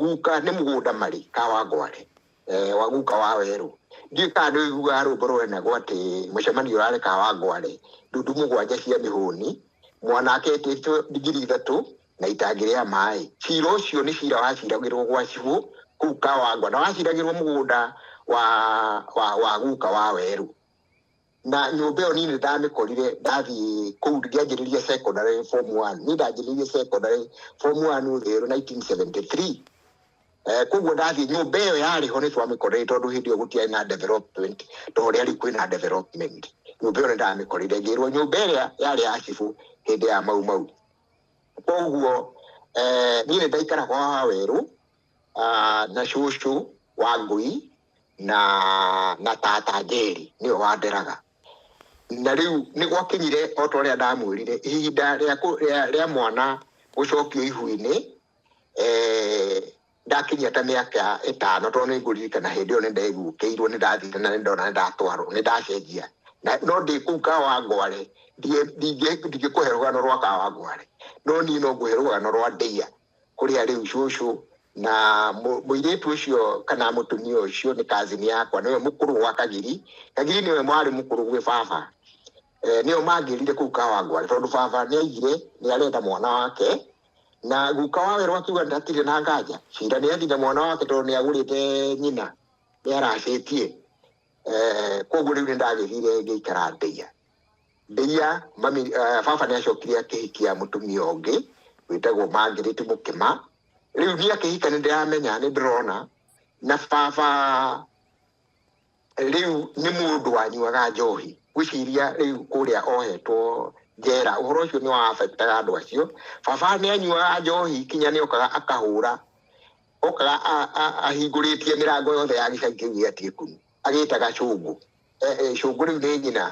Guka nĩ mũgũnda marĩ ka wa ngware eh, wa guka wa werũ ndiĩ kana nĩ ũiguaga rũmbo rũrenagwo atĩ mũcemanio ũrarĩ ka wa ngware ndundu mũgwanja cia mĩhũni mwana aketĩtwo ndigiri ithatũ na itangĩ rĩa maĩ cira ũcio nĩ cira waciragĩrwo gwa cibũ kũu ka wa ngware na waciragĩrwo mũgũnda wa, wa, wa guka wa werũ na nyũmba ĩyo niĩ nĩ ndamĩkorire ndathiĩ kũu ngĩanjĩrĩria secondary form one niĩ ndanjĩrĩirie secondary form one ũtherũ 1973 Eh, koguo ndathiĩ nyũmba ĩyo yarĩ ho nĩ twamĩkorire tondũ hĩndĩ ĩyo gũtiarĩ na development ta ũrĩa rĩu kwĩna development nyũmba ĩyo nĩ ndamĩkorire ngĩrwo nyũmba ĩrĩa yarĩ ya cibũ hĩndĩ ya mau mau koguo eh, niĩ nĩ ndaikara kwa wawerũ ah, na cucu wa ngũi na na tata njeri nĩwe wanderaga na rĩu nĩ gwakinyire o ta ũrĩa ndamwĩrire ihinda rĩa kũ- rĩa- rĩa mwana gũcokio ihu-inĩ eh, ndakinyia ta mĩaka ĩtano tondũ nĩ ngũririkana hĩndĩ ĩyo nĩ ndaiguũkĩirwo nĩ ndathire na nĩ ndona nĩ ndatwarwo nĩ ndacenjia Na- no ndĩ kũu kawangware ndingĩkũhe rũgano rwa kawangware no niĩ no ngũhe rũgano rwa ndĩia kũrĩa rĩu cũcũ na mũ- mũirĩtu ũcio kana mũtumia ũcio nĩ kazini yakwa nĩwe mũkũrũ gwa kagiri kagiri nĩwe mwarĩ mũkũrũ gwĩ baba eh, nĩo mangĩrire kũu kawangware tondũ baba nĩ aigire nĩ arenda mwana wake na guka wawerwo akiuga ndatirĩ na nganja cira nĩ athire mwana wake tondũ nĩ agũrĩte nyina nĩ aracĩtie eh, koguo rĩu nĩ ndagĩthire ngĩikara ndeia Ndĩia, mami, eh, baba nĩ acokire akĩhikia mũtumia ũngĩ wĩtagwo Mangirĩti Mũkĩma. Rĩu niĩ akĩhika nĩ ndĩramenya nĩ ndĩrona na baba rĩu nĩ mũndũ wanyuaga njohi gwĩciria rĩu kũrĩa ohetwo njera ũhoro ũcio nĩ wa affectaga andũ acio baba nĩ anyuaga njohi kinya nĩ okaga akahũra okaga a- a- ahingũrĩtie mĩrango yothe ya gĩcagi kĩu gĩa Tiekunu agĩtaga cũngũ eh, eh, cũngũ rĩu nĩ nyina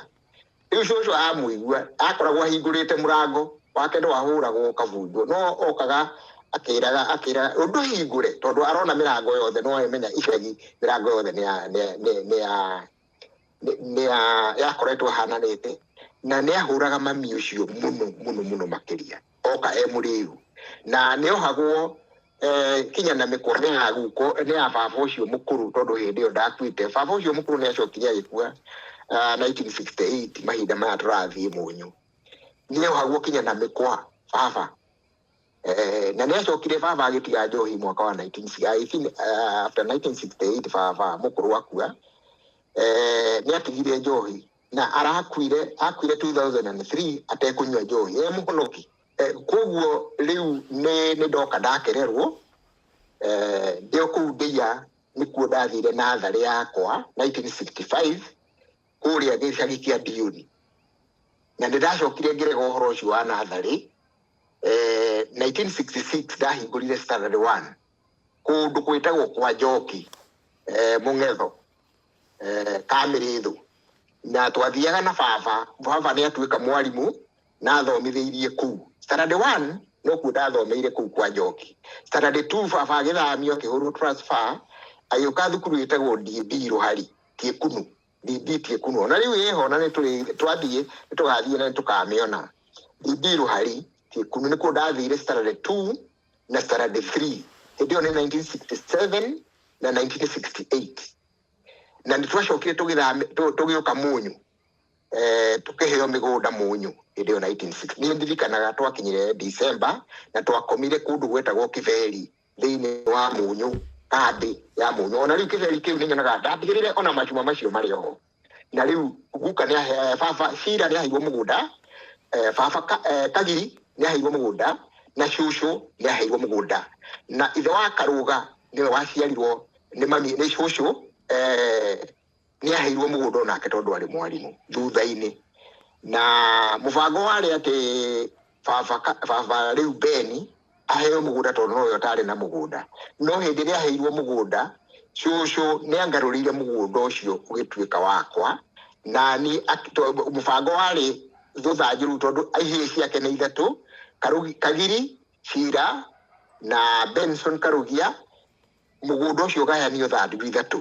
rĩu cũcũ amũigua akoragwo ahingũrĩte mũrango wake nĩ wahũragwo ũkabunjwo no okaga akĩraga akĩraga ũndũ hingũre tondũ arona mĩrango yothe no amenya icagi mĩrango yothe nĩ ya nĩ- nĩ- nĩ ya nĩ- nĩ ya yakoretwo ahananĩte na nĩ ahũraga mami ũcio mũno mũno mũno makĩria oka e mũrĩu na nĩ ohagwo eh, kinya na mĩkwa nĩ ya guko nĩ ya baba ũcio mũkũrũ tondũ hĩndĩ ĩyo ndakuĩte baba ũcio mũkũrũ nĩ acokire agĩkua ah, 1968 mahinda maya tũrathiĩ mũnyũ niĩ haguo kinya na mĩkwa baba Eh, na nä acokire baba agä tiga njohi mwaka wa 19 I think, uh, after 1968 baba må kå rå akua eh, nä atigire njohi na arakuire akuire 2003 atekå nyua njohi e må honoki Eh, koguo rĩu nĩ nĩ ndoka ndakererwo eh, ndĩ o kũu ndĩia nĩkuo ndathire na tharĩ yakwa 1965 kũrĩa gĩcagi kĩa ndioni na nĩ ndacokire ngĩrega ũhoro ũcio wa natharĩ eh, 1966 ndahingũrire standard one kũndũ gwĩtagwo kwa njoki eh, mũng'etho eh, kamĩrĩthũ na twathiaga na baba baba nĩ atuĩka mwarimũ na thomithĩirie kũu standard one no kuo ndathomeire kũu kwa njoki standard two baba agĩthamio akĩhũrwo transfer agĩũka thukuru ĩtagwo DB Rũhari Tiekunu DB Tiekunu ona rĩu ĩho na nĩtũrĩ- twathiĩ nĩtũgathiĩ na nĩtũkamĩona DB Rũhari Tiekunu nĩkuo ndathire standard two na standard three hĩndĩ ĩyo nĩ 1967 na 1968 na nĩtwacokire tũgĩthame- tũ- tũgĩũka mũnyũ eh, tũkĩheo mĩgũnda mũnyũ hĩndĩ ĩyo 1960 nĩ ndirikanaga twakinyire December na twakomire kũndũ gwetagwo Kĩberi thĩinĩ wa mũnyũ kambĩ ya mũnyũ ona rĩu Kĩberi kĩu nĩ nyonaga ndatigĩrĩre ona macuma macio marĩ oho na rĩu guka nĩ ahe eh, baba Shira nĩ aheirwo mũgũnda eh, baba Ka- eh, Kagiri nĩ aheirwo mũgũnda na cũcũ nĩ aheirwo mũgũnda na ithe wa Karũga nĩwe waciarirwo nĩ mami nĩ cũcũ eh, nĩ aheirwo mũgũnda onake tondũ arĩ mwarimũ thutha-inĩ na mũbango warĩ atĩ baba ka- baba rĩu beni aheo mũgũnda tondũ nowe ũtarĩ na mũgũnda no hĩndĩ ĩrĩa aheirwo mũgũnda cũcũ nĩ angarũrĩire mũgũnda ũcio ũgĩtuĩka wakwa na niĩ ak- to- mũbango warĩ thũthanju rĩu tondũ ihĩĩ ciake nĩ ithatũ Karugi- kagiri cira na benson karugia mũgũnda ũcio ũgayanio thandugu ithatũ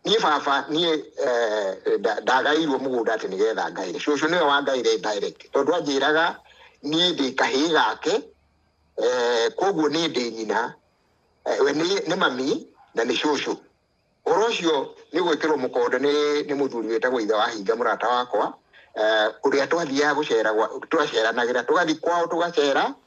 niĩ baba niĩ eh, nda- ndagaĩirwo mũgũnda atĩ nĩgetha ngaĩre cũcũ nĩwe wangaĩire direct tondũ anjĩraga niĩ ndĩ kahĩĩ gake eh, koguo niĩ ndĩ nyina eh, we nĩ nĩ mami na nĩ cũcũ ũhoro ũcio nĩ gwĩkĩrwo mũkonde nĩ nĩ mũthuri wĩtagwo ithe wa hinga mũrata wakwa eh, ũrĩa twathiaga gũcera gwa- twaceranagĩra tũgathiĩ kwao tũgacera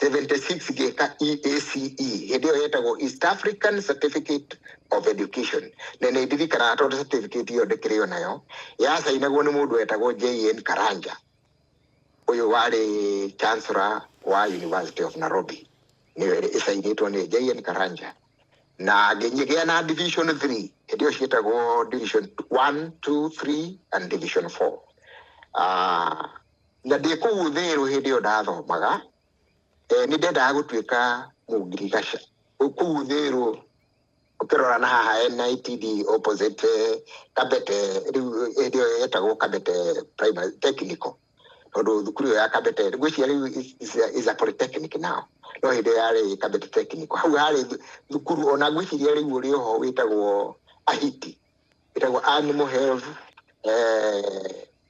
76 gĩka EACE hĩndĩ ĩyo yetagwo East African Certificate of Education na nĩ ndirikanaga tondũ certificate ĩyo ndĩkĩrĩ o nayo yacainagwo nĩ mũndũ wetagwo JN Karanja ũyũ warĩ chancellor wa University of Nairobi nĩyo ĩcainĩtwo nĩ JN Karanja na ngĩgĩa na division 3 hĩndĩ ĩyo ciĩtagwo division 1 2 3 and division 4 uh, ah, Na ndĩ kũu thĩrũ hĩndĩ ĩyo ndathomaga, eh, nĩ ndendaga gũtuĩka mũngirigaca. Kũu thĩrũ ũkĩrora na haha NITD opposite eh, Kabete, rĩu hĩndĩ ĩyo yetagwo Kabete Primary Technical tondũ thukuru ĩyo ya Kabete ngwĩciria rĩu is- is- is a polytechnic now no hĩndĩ ĩyo yarĩ Kabete Technical hau harĩ thu- thukuru ona ngwĩciria rĩu ũrĩ oho wĩtagwo Ahiti wĩtagwo Animal Health eh,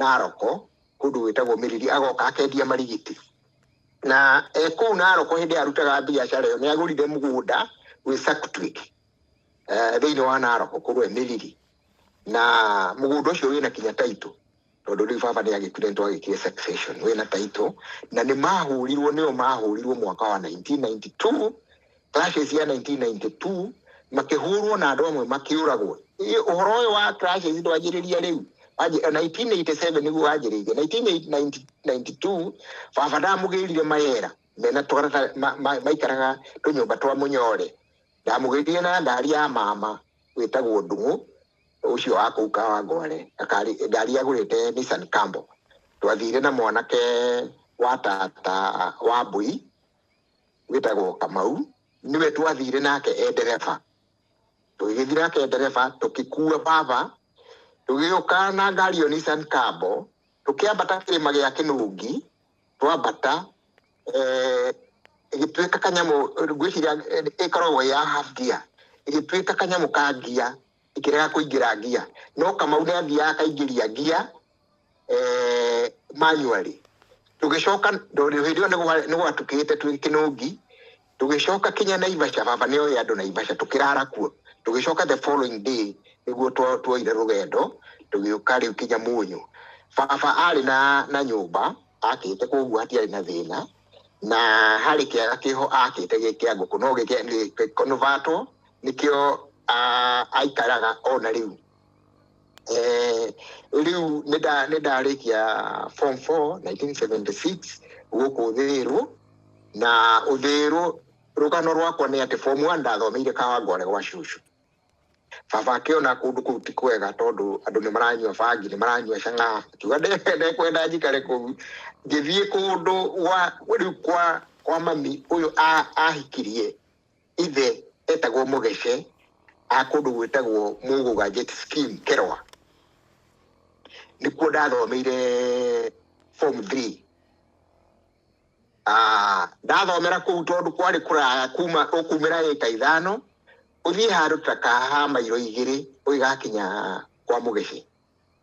Naroko, kũndũ gwĩtagwo Mĩriri, agoka akendia marigiti. Na e kũu Naroko hĩndĩ arutaga biacara ĩyo nĩ agũrire mũgũnda wĩ Saktwick eh, thĩinĩ wa Naroko kũrĩa Mĩriri. Na mũgũnda ũcio wĩna kinya taitũ tondũ rĩu baba nĩ agĩkuire nĩ twagĩkire succession wĩna taitũ na nĩ mahũrirwo nĩo mahũrirwo mwaka wa 1992 clashes ya 1992 makĩhũrwo na andũ amwe makĩũragwo Ĩ- ũhoro ũyũ wa clashes ndwanjĩrĩria rĩu Wanjĩ- 1987 nĩguo wanjĩrĩirie 1992 baba ndamũgĩrire mayera mena twarata ma- ma- maikaraga tũnyũmba twa mũnyore ndamũgĩrire na ngari ya mama wĩtagwo ndung'ũ ũcio wa kũu kawangware Akari- ngari agũrĩte Nissan Cambo twathire na mwanake wa tata wa mbui wĩtagwo kamau nĩwe twathire nake e ndereba tũgĩgĩthiĩ nake e ndereba tũkĩkua baba tũgĩũka na ngari ĩyo Nissan Kambo tũkĩambata kĩrĩma gĩa kĩnungi twambata eh, ĩgĩtuĩka kanyamũ ngwĩciria eh, ĩkoragwo ĩ ya half gear ĩgĩtuĩka kanyamũ ka ngia ĩkĩrega kũingĩra ngia no kamau nĩ athiaga akaingĩria ngia eh, manually tũgĩcoka ndorĩ hĩndĩ ĩyo nĩgwa- nĩgwatukĩte twĩ kĩnũngi tũgĩcoka kinya naivasha baba nĩoĩ andũ naivasha tũkĩrara kuo tũgĩcoka the following day nĩguo twa- twoire rũgendo tũgĩũka rĩu kinya mũnyũ baba arĩ na na nyũmba akĩte koguo hatiarĩ na thĩna na harĩ kĩaga kĩho akĩte gĩ kĩa ngũkũ no gĩkĩnovatwo nĩkĩo ah, aikaraga ona rĩu Eh, rĩu nĩ nda- nĩ ndarĩkia form 4 1976 gũkũ thĩrũ na ũthĩrũ rũgano rwakwa nĩ atĩ form 1 ndathomeire kawangware gwa cucu baba akĩona kũndũ kũu ti kwega tondũ andũ nĩ maranyua bangi nĩ maranyua cang'a akiuga "Nde- ndekwenda njikare kũu ngĩthiĩ kũndũ gwa rĩu kwa kwa mami ũyũ a- ahikirie ithe etagwo mũgece a kũndũ gwĩtagwo mũgũga jet skin keroa nĩkuo ndathomeire form 3 Ah, ndathomera kũu tondũ kwarĩ kũraya kuma ũkumĩra ĩka ithano ũthiĩ handũ ta kaha mairo igĩrĩ ũgĩgakinya kwa mũgece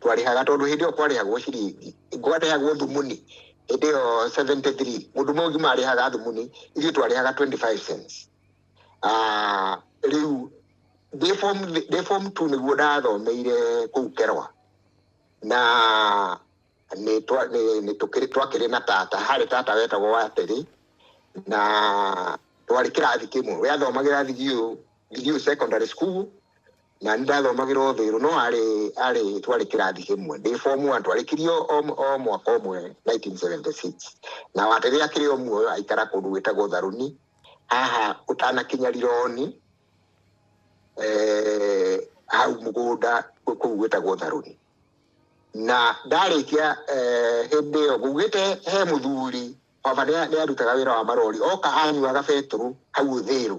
twarĩhaga tondũ hĩndĩ ĩyo kwarĩhagwo ciringi kwarĩhagwo thumuni hĩndĩ ĩyo 73 mũndũ mũgima arĩhaga thumuni ithuĩ twarĩhaga 25 cents Ah, rĩu ndĩ form ndĩ form 2 nĩguo ndathomeire kũu kerwa na nĩ twa- nĩ- nĩ tũkĩrĩ- twakĩrĩ na tata harĩ tata wetagwo watĩrĩ na twarĩ kĩrathi kĩmwe we athomagĩra thigiũ thigiũ secondary school na nĩ ndathomagĩra o thĩrũ no arĩ arĩ twarĩ kĩrathi kĩmwe ndĩ form one twarĩkirio o o mwaka ũmwe 1976 na wa rĩrĩa akĩrĩ o muoyo aikara kũndũ gwĩtagwo tharuni haha ũtanakinya rironi eh, hau mũgũnda kũ- kũu gwĩtagwo tharuni na ndarĩkia eh, hĩndĩ ĩyo ngugĩte he mũthuri baba nĩ arutaga wĩra wa marori oka anyuaga betũrũ hau ũthĩrũ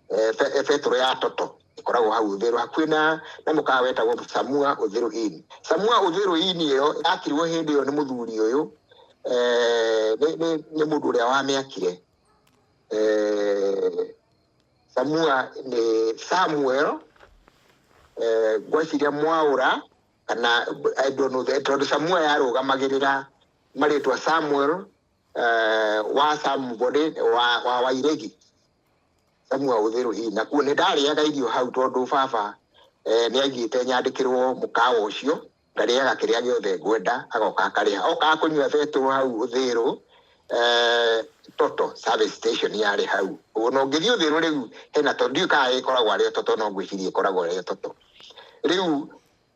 eh, eh, betũrũ ya toto ĩkoragwo hau ũthĩrũ hakuhĩ na na mũkawa wetagwo samua ũthĩrũ ini samua ũthĩrũ ini ĩyo yakirwo hĩndĩ ĩyo nĩ mũthuri ũyũ eh, nĩ mũndũ ũrĩa wamĩakire samua nĩ samuel ngweciria mwaũra kana tondũ samua yarũgamagĩrĩra marĩtwa samuel eh, wa samubode wa, wa wairegi samua ũthĩrũ hihi na kuo nĩ ndarĩaga irio hau tondũ baba eh, nĩ aigĩte nyandĩkĩrwo mũkawa ũcio ngarĩaga kĩrĩa gĩothe ngwenda agoka akarĩha okaga kũnyua betũ hau ũthĩrũ eh, toto service station yarĩ hau ũguo na ũngĩthiĩ ũthĩrũ rĩu hena to ndiũĩ kana ĩkoragwo arĩ o toto no ngwĩciria ĩkoragwo arĩ o toto rĩu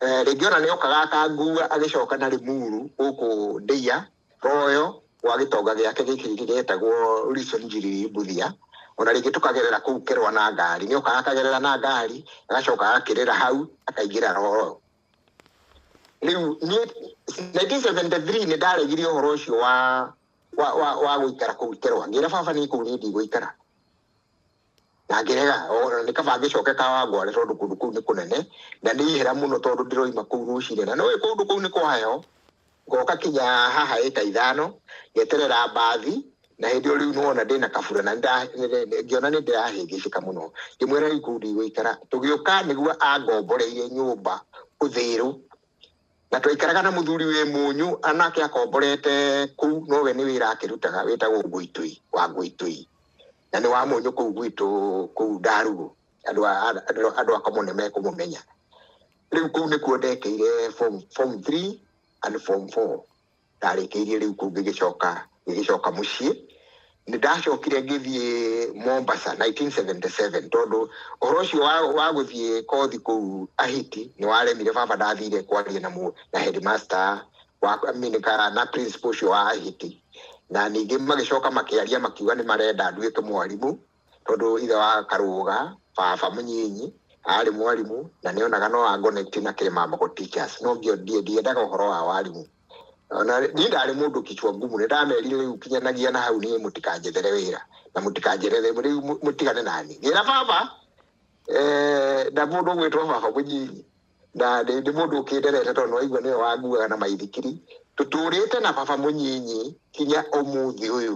Eh, rĩngĩ ona nĩ okaga akangua agĩcoka na rĩmuru gũkũ ndĩia royo gwa gĩtonga gĩake gĩkĩ gĩgetagwo Wilson Njiriri Mbuthia ona rĩngĩ tũkagerera kũu kĩrwa na ngari nĩ okaga akagerera na ngari agacoka agakĩrĩra hau akaingĩra royo rĩu niĩ 1973 nĩ ndaregire ũhoro ũcio wa wa wa wa gũikara kũu kĩrwa ngĩra baba niĩ kũu niĩ ndigũikara na ngĩrega o na nĩ kaba ngĩcoke kawangware tondũ kũndũ kũu nĩ kũnene na nĩ ihera mũno tondũ ndĩroima kũu rũcinĩ na nĩũĩ kũndũ kũu nĩ kwa heho ngoka kinya haha ĩka ithano ngeterera mbathi na hĩndĩ ĩyo rĩu nĩwona ndĩna kabura na nda- nĩ- nĩ- nĩ- ngĩona nĩ ndĩrahĩngĩcĩka mũno ngĩmwĩra rĩu kũu ndigũikara tũgĩũka nĩguo angomboreire nyũmba ũthĩrũ na twaikaraga na mũthuri wĩ mũnyũ anake akomborete kũu nowe nĩ wĩra akĩrutaga wĩtagwo ngũitũi wa ngũitũi na nĩ wa mũnyũ kũu gwitũ kũu ndarugũ andũ a- a- andũ- andũ akomo nĩ mekũmũmenya rĩu kũu nĩkuo ndekeire form form 3 and form 4 ndarĩkĩirie rĩu kũu ngĩgĩcoka ngĩgĩcoka mũciĩ nĩ ndacokire ngĩthiĩ mombasa 1977 tondũ ũhoro ũcio wa, wa gũthiĩ kothi kũu ahiti nĩ waremire baba ndathire kwaria na, mũ- na headmaster wa Aminika na principal ũcio wa Ahiti na ningĩ magĩcoka makĩaria makiuga nĩ marenda nduĩke mwarimũ tondũ ithe wa Karũga baba mũnyinyi arĩ mwarimũ na nĩ onaga no angonekti na Kĩrĩmamboko Teachers no ngĩo ndiĩ ndiendaga ũhoro wa warimũ ona niĩ ndarĩ mũndũ kichwa ngumu nĩ ndamerire rĩu kinyanagia na hau niĩ mũtikanjethere wĩra na mũtikanjethere rĩu mũ- mũtigane nani ngĩra baba eh, na mũndũ ũgwĩtwo baba mũnyinyi na nĩ nĩ mũndũ ũkĩnderete tondũ nĩwaigua nĩwe wanguaga na maithikiri tũtũrĩte na baba mũnyinyi kinya ũmũthĩ ũyũ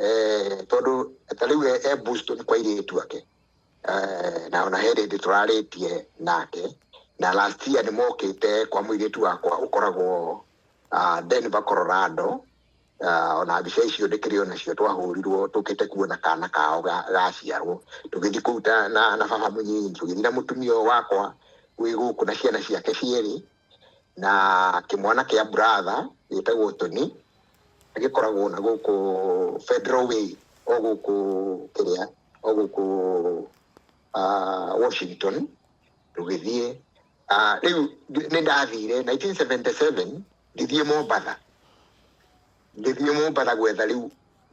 eh, tondũ ta rĩu e- e Boston kwa irĩtu ake Eh, na ona he rĩndĩ tũrarĩtie nake na last year nĩ mokĩte kwa mũirĩtu wakwa ũkoragwo ah, Denver Colorado Ah, ona mbica icio ndĩkĩrĩ onacio twahũrirwo tũkĩte kuona kana kao ga- gaciarwo tũgĩthiĩ kũu ta- na na baba mũnyinyi tũgĩthiĩ na mũtumia ũyũ wakwa wĩ gũkũ na ciana ciake cierĩ na kĩmwana kĩa buratha gĩtagwo toni gĩkoragwo na gũkũ federal way o gũkũ kĩrĩa o gũkũ ah, washington tũgĩthiĩ Ah, rĩu ndi- nĩ ndathire 1977 ngĩthiĩ mombatha ngĩthiĩ mombatha gwetha rĩu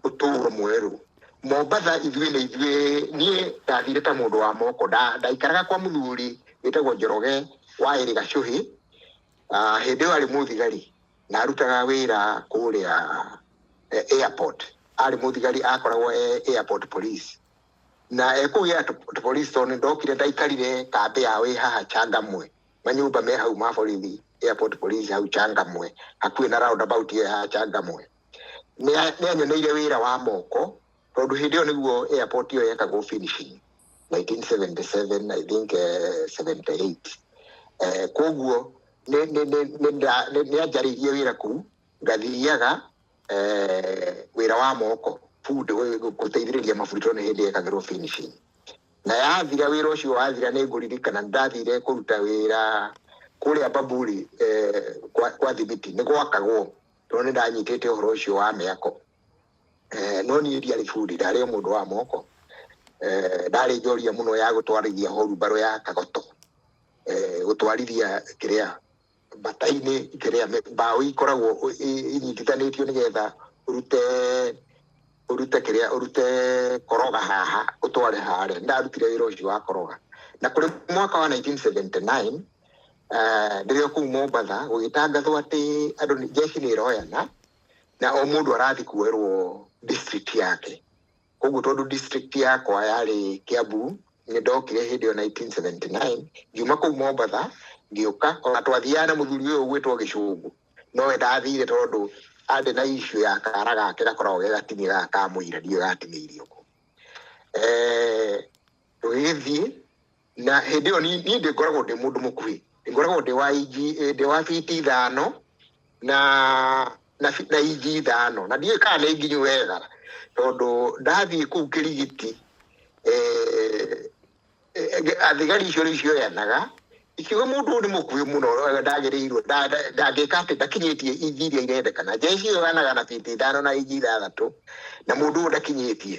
ũtũũro mwerũ mombatha ithuĩ nĩ ithuĩ niĩ ndathire ta mũndũ wa moko Nda- ndaikaraga kwa mũthuri wĩtagwo njoroge wa ĩrĩ gacũhĩ Ah, hĩndĩ ĩyo arĩ mũthigari na arutaga wĩra kũrĩa eh, airport arĩ mũthigari akoragwo e airport police na ekũgĩa tũ- polisi tondũ ndokire ndaikarire kambĩ yao ĩ haha changamwe manyũmba me hau ma borithi airport police hau changamwe hakuhĩ na roundabout ĩyo ya changamwe Nĩa- nĩanyoneire wĩra wa moko tondũ hĩndĩ ĩyo nĩguo airport ĩyo yekagwo finishing 1977 i think eh, 78 eh, koguo nĩ- nĩ- nĩ- nĩ nda- nĩ- nĩanjarĩirie wĩra kuu ngathiaga eh, wĩra wa moko food gũ- gũ- gũteithĩrĩria maburi tondũ nĩ hĩndĩ yekagĩrwo finishing na yathira wĩra ũcio wathira nĩ ngũririkana nĩ ndathire kũruta wĩra kũrĩa baburi eh, kwa kwa thibiti nĩ gwakagwo tondũ nĩ ndanyitĩte ũhoro ũcio wa mĩako Eh, no niĩ ndiarĩ bundi ndarĩ o mũndũ wa moko Eh, ndarĩ njoria mũno ya gũtwarithia horu mbarũ ya kagoto Eh, gũtwarithia kĩrĩa mbata-inĩ ikĩrĩa mĩ- mbaũ ikoragwo ũ- i- inyitithanĩtio nĩgetha ũrute ũrute kĩrĩa ũrute koroga haha ũtware harĩa ndarutire wĩra ũcio wa koroga na kũrĩ mwaka wa 1979 eh, rĩrĩa kũu mombatha gũgĩtangathwo atĩ andũ nĩ- jeshi nĩ ĩroyana na o mũndũ arathiĩ kuoerwo district yake Koguo tondũ district yakwa yarĩ Kiambu, nĩ ndokire hĩndĩ ĩyo 1979, ngiuma kũu Mombatha, ngĩũka, ona twathiaga na mũthuri ũyũ ũgwĩtwo Gĩcũngũ, nowe ndathire tondũ arĩ na issue ya kara gake gakoragwo ge gatinĩ gaka ka mũira, ndiũĩ gatinĩirio kũ. Eh, Tũgĩgĩthiĩ, na hĩndĩ ĩyo ni- niĩ ndĩngoragwo ndĩ mũndũ mũkuhĩ ndĩngoragwo ndĩ wa inji eh, ndĩ wa biti ithano na na fi- na inji ithano na ndiũĩ kana nĩ nginyu wega tondũ ndathiĩ kũu kĩrigiti eh, eh, eh, athigari icio nĩ cioyanaga ikiuga mũndũ ũyũ nĩ mũkuhĩ mũno eh, ndagĩrĩirwo nda- nda- ndangĩka atĩ ndakinyĩtie inji iria irendekana njeci ĩyo yanaga na biti ithano na inji ithathatũ na mũndũ ũyũ ndakinyĩtie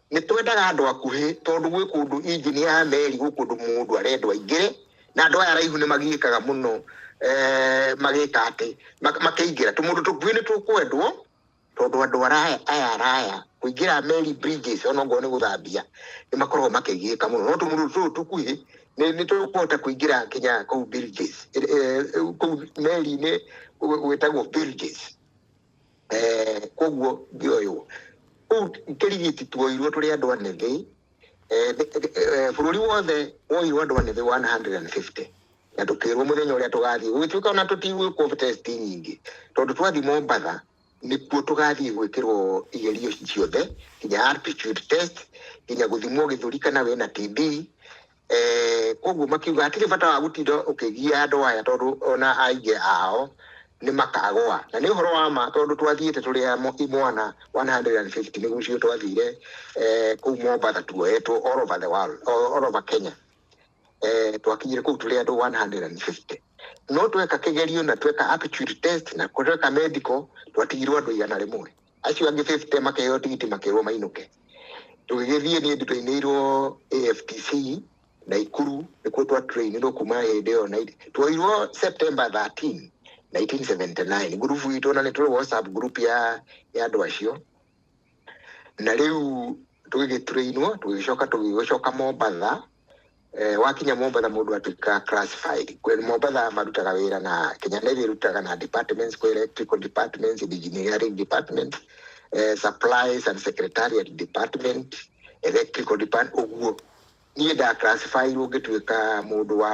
Nĩ twendaga andũ akuhĩ tondũ gwĩ kũndũ injini ya meri gwĩ kũndũ mũndũ arendwo aingĩre na andũ aya araihu nĩ magiĩkaga mũno eh, magĩka atĩ mak- makĩingĩra tũmũndũ tũkuhĩ nĩ tũkwendwo tondũ andũ araya aya araya kũingĩra meri bridges ona ngorwo nĩ gũthambia nĩ makoragwo makĩgiĩka mũno no tũmũndũ tũtũ tũkuhĩ nĩ nĩ tũkũhota kũingĩra nginya kũu bridges eh, eh, kũu meri-inĩ gwĩtagwo bridges Eh, koguo ngioywo kuu kirigiti tuoirwo turi andu anithi Eh, thi- thi- eh, bururi wothe woirwo andu anithi 150 na tukirwo muthenya uria tugathii gugituika ona tutigwikwo test nyingi tondu twathii mombatha nikuo tugathii gwikirwo igerio ciothe nginya aptitude test nginya guthimwo githuri kana wina tb Eh, koguo makiuga hatirĩ bata wa gũtinda ũkĩgia andũ aya tondũ ona aingĩ ao nĩ makagũa na nĩ ũhoro wa ma tondũ twathiĩte tũrĩ a mo- imwana 150 nĩ gucio twathire eh, kũu mombasa tuoetwo all over the world all all over kenya eh, twakinyire kũu tũrĩ andũ 150 no tweka kĩgerio na tweka aptitude test na tweka medical twatigirwo andũ igana rĩmwe acio angĩ 50 makaheo tigiti makerwo mainũke tũgĩgĩthiĩ niĩ nditoinĩirwo AFTC na Ikuru nĩkuo twa trainirwo kuma hĩndĩ ĩyo na twoirwo September 13 1979 ngurubu itũ na nĩ tũrĩ WhatsApp group ya ya andũ acio na rĩu tũgĩgĩtrainwo tũgĩgĩcoka tũgĩgĩcoka Mombatha Eh, wakinya Mombatha mũndũ atuĩka classified. Kwe- Mombatha marutaga wĩra na Kenya Navy ĩrutaga na departments kwa electrical departments, engineering department, eh, supplies and secretariat department, electrical department ũguo. Niĩ nda classify ngĩtuĩka mũndũ wa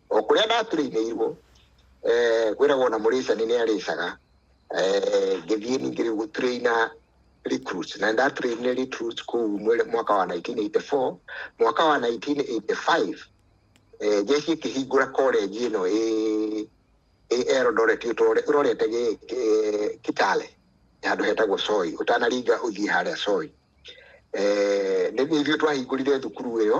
o kũrĩa ndaturĩinĩirwo eh, kwĩragwo na mũrĩcani nĩ arĩcaga eh, ngĩthiĩ ningĩ rĩu gũturĩina recruits na ndaturĩinire recruits kũu mwere- mwaka wa 1984 mwaka wa 1985 eh, jeshi ĩkĩhingũra college ĩno ĩ ĩ Eldoret ũtore- ũrorete gĩ- gĩ- Kitale handũ hetagwo Soi ũtanaringa ũthiĩ harĩa Soi eh, nĩ nĩ ithuĩ twahingũrire thukuru ĩyo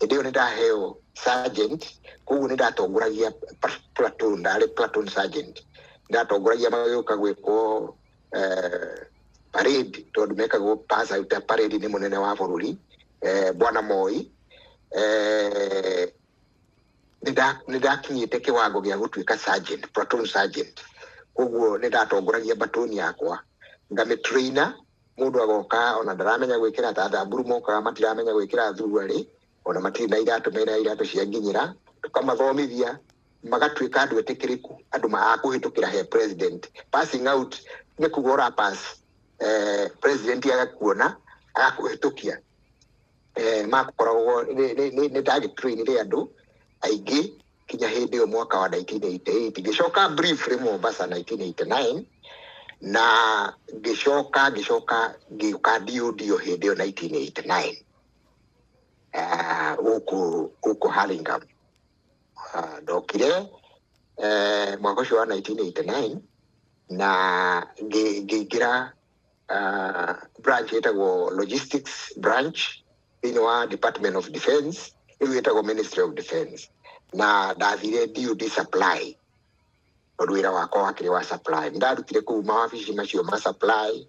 hĩndĩ ĩyo nĩ ndaheo sergeant koguo nĩ ndatongoragia pa- platoon ndarĩ platoon sergeant nĩ ndatongoragia magĩũka gwĩkwo eh, parade tondũ mekagwo pass out ya parade nĩ mũnene wa bũrũri eh, bwana moi eh, nĩ nda- nĩ ndakinyĩte kĩwango gĩa gũtuĩka sergeant platoon sergeant koguo nĩ ndatongoragia batoni yakwa ngamĩtraina mũndũ agoka ona ndaramenya gwĩkĩra ta thamburu mokaga matiramenya gwĩkĩra thuruarĩ ona matirĩ na iratũ mena iratũ cia nginyĩra tũkamathomithia magatuĩka andũ etĩkĩrĩku andũ maakũhĩtũkĩra he president passing out nĩ kuga ũra pass eh, president agakuona agakũhĩtũkia eh, makoragwo nĩ target train rĩ andũ aingĩ kinya hĩndĩ ĩyo mwaka wa 1988 ngĩcoka briefly Mombasa 1989 na ngĩcoka ngĩcoka ngĩũka ndio hĩndĩ ĩyo 1989 eh, gũkũ gũkũ Hurlingham Ah, ndokire eh, mwaka ũcio wa 1989 na ngĩ- ngĩingĩra uh, branch ĩtagwo logistics branch thĩinĩ wa department of defense rĩu ĩtagwo ministry of defense na ndathire DOD supply tondũ wĩra wakwa wakĩrĩ wa supply Nĩ ndarutire kũu mawabici macio ma supply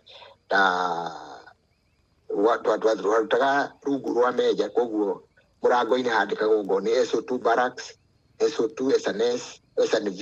na wa- twa- twa- twarutaga rungu rwa meja koguo mũrango-inĩ handĩkagwo ngo nĩ SO2 barracks SO2 SNS SNV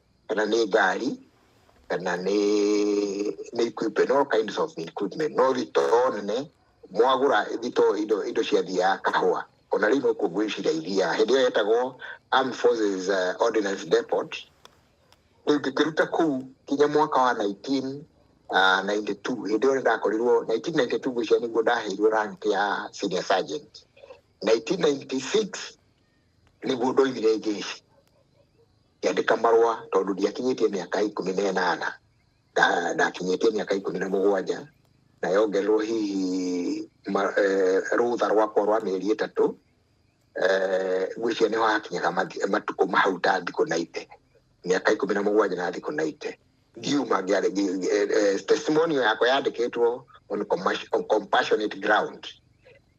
kana nĩ ngari kana nĩ nĩ equipment all kinds of equipment no thitoo nene mwagũra thitoo indo indo cia thia ya kahũa ona rĩu no kuo ngwĩciria ithiaga hĩndĩ ĩyo yetagwo Armed Forces uh, Ordnance Depot rĩu ngĩkĩruta kuu kinya mwaka wa 19 Uh, 92 hĩndĩ ĩyo nĩ ndakorirwo 1992 gwĩcia nĩguo ndaheirwo rank ya senior sergeant 1996 nĩguo ndoimire njeshi ngĩandĩka marũa tondũ ndiakinyĩtie mĩaka ikũmi na ĩnana Nda- ndakinyĩtie mĩaka ikũmi na mũgwanja na yongererwo hihi ma- eh, rũtha rwakwa rwa mĩeri ĩtatũ eh, ngwĩciria nĩho hakinyaga mathi- matukũ mahau ta thikũ na ite mĩaka ikũmi na mũgwanja na thikũ na ite ngiuma ngĩarĩ- ngi- ngi- eh, eh, testimonial yakwa yandĩkĩtwo on commas- on compassionate ground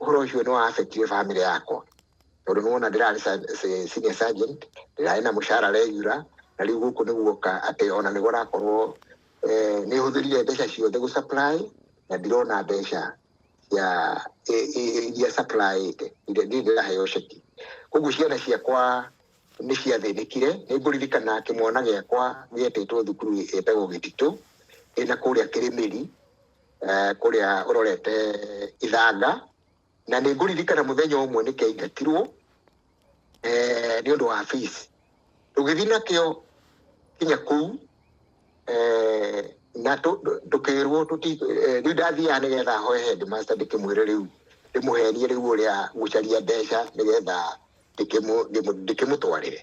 ũhoro ũcio nĩ wa affectire family yakwa tondũ nĩwona ndĩrarĩ sa- se- senior sergeant ndĩrarĩ na mũcara regular na rĩu gũkũ nĩ guoka atĩ ona nĩguo rakorwo eh, nĩ hũthĩrire mbeca ciothe gũ supply na ndirona mbeca cia i- i- iria supply ĩte iria ndirĩ ndĩraheo ceki koguo ciana ciakwa nĩ ciathĩnĩkire nĩ ngũririkana kĩmwana gĩakwa gĩetĩtwo thukuru ĩtagwo gĩtitũ ĩna kũrĩa kĩrĩmĩri eh, kũrĩa ũrorete ithanga na nĩ ngũririkana mũthenya ũmwe nĩ kĩaingatirwo eh, nĩ ũndũ wa fees tũgĩthiĩ nakĩo kinya kũu eh, na tũ- tũ- tũkĩrwo tũti- eh, rĩu ndathiaga nĩgetha hoe headmaster ndĩkĩmwĩre rĩu ndĩmũhenie rĩu ũrĩa gũcaria mbeca nĩgetha ndĩkĩmũ- ndĩmũ- ndĩkĩmũtwarĩre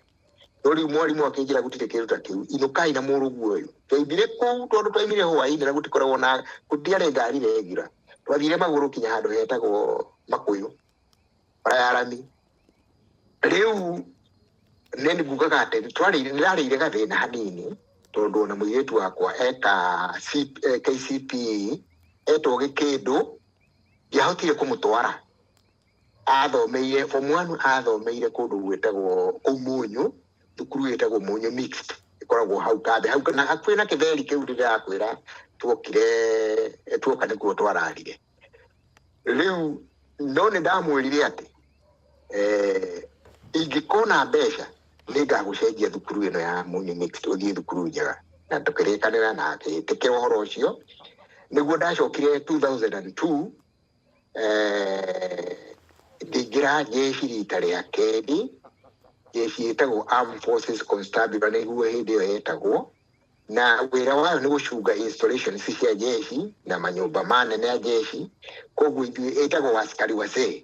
no rĩu mwarimũ akĩnjĩra gũtirĩ kĩndũ ta kĩu inũkai na mũrũguo ũyũ twaimire kũu tondũ twaimire hwainĩ na gũtikoragwo na gũtiarĩ ngari regular twathire magũrũ kinya handũ hetagwo makũyũ bara ya rami rĩu nĩ ngugaga atĩ twarĩire nĩrarĩire gathĩna hanini tondũ ona mũirĩtu wakwa eka C- eh, KCPE etwo gĩkĩndũ ndiahotire kũmũtwara athomeire form one athomeire kũndũ gwĩtagwo kũu mũnyũ thukuru ĩtagwo mũnyũ mixed ĩkoragwo hau kambe hau na hakuhĩ na kĩtheri kĩu ndĩrakwĩra tuokire eh, tuoka nĩkuo twararire rĩu no nĩ ndamwĩrire atĩ eh, ingĩkona mbeca nĩ ngagũcenjia thukuru ĩno ya mũnyũ mixed ũthiĩ thukuru njega na tũkĩrĩkanĩra na agĩtĩkĩra ũhoro ũcio nĩguo ndacokire 2002 eh, ndingĩra jeshi rita rĩa kerĩ jeshi ĩtagwo Armed Forces Constabulary nĩguo hĩndĩ ĩyo yetagwo na wĩra wayo nĩ gũcunga installations cia jeshi na manyũmba manene ya jeshi koguo ithuĩ ĩtagwo askari wazee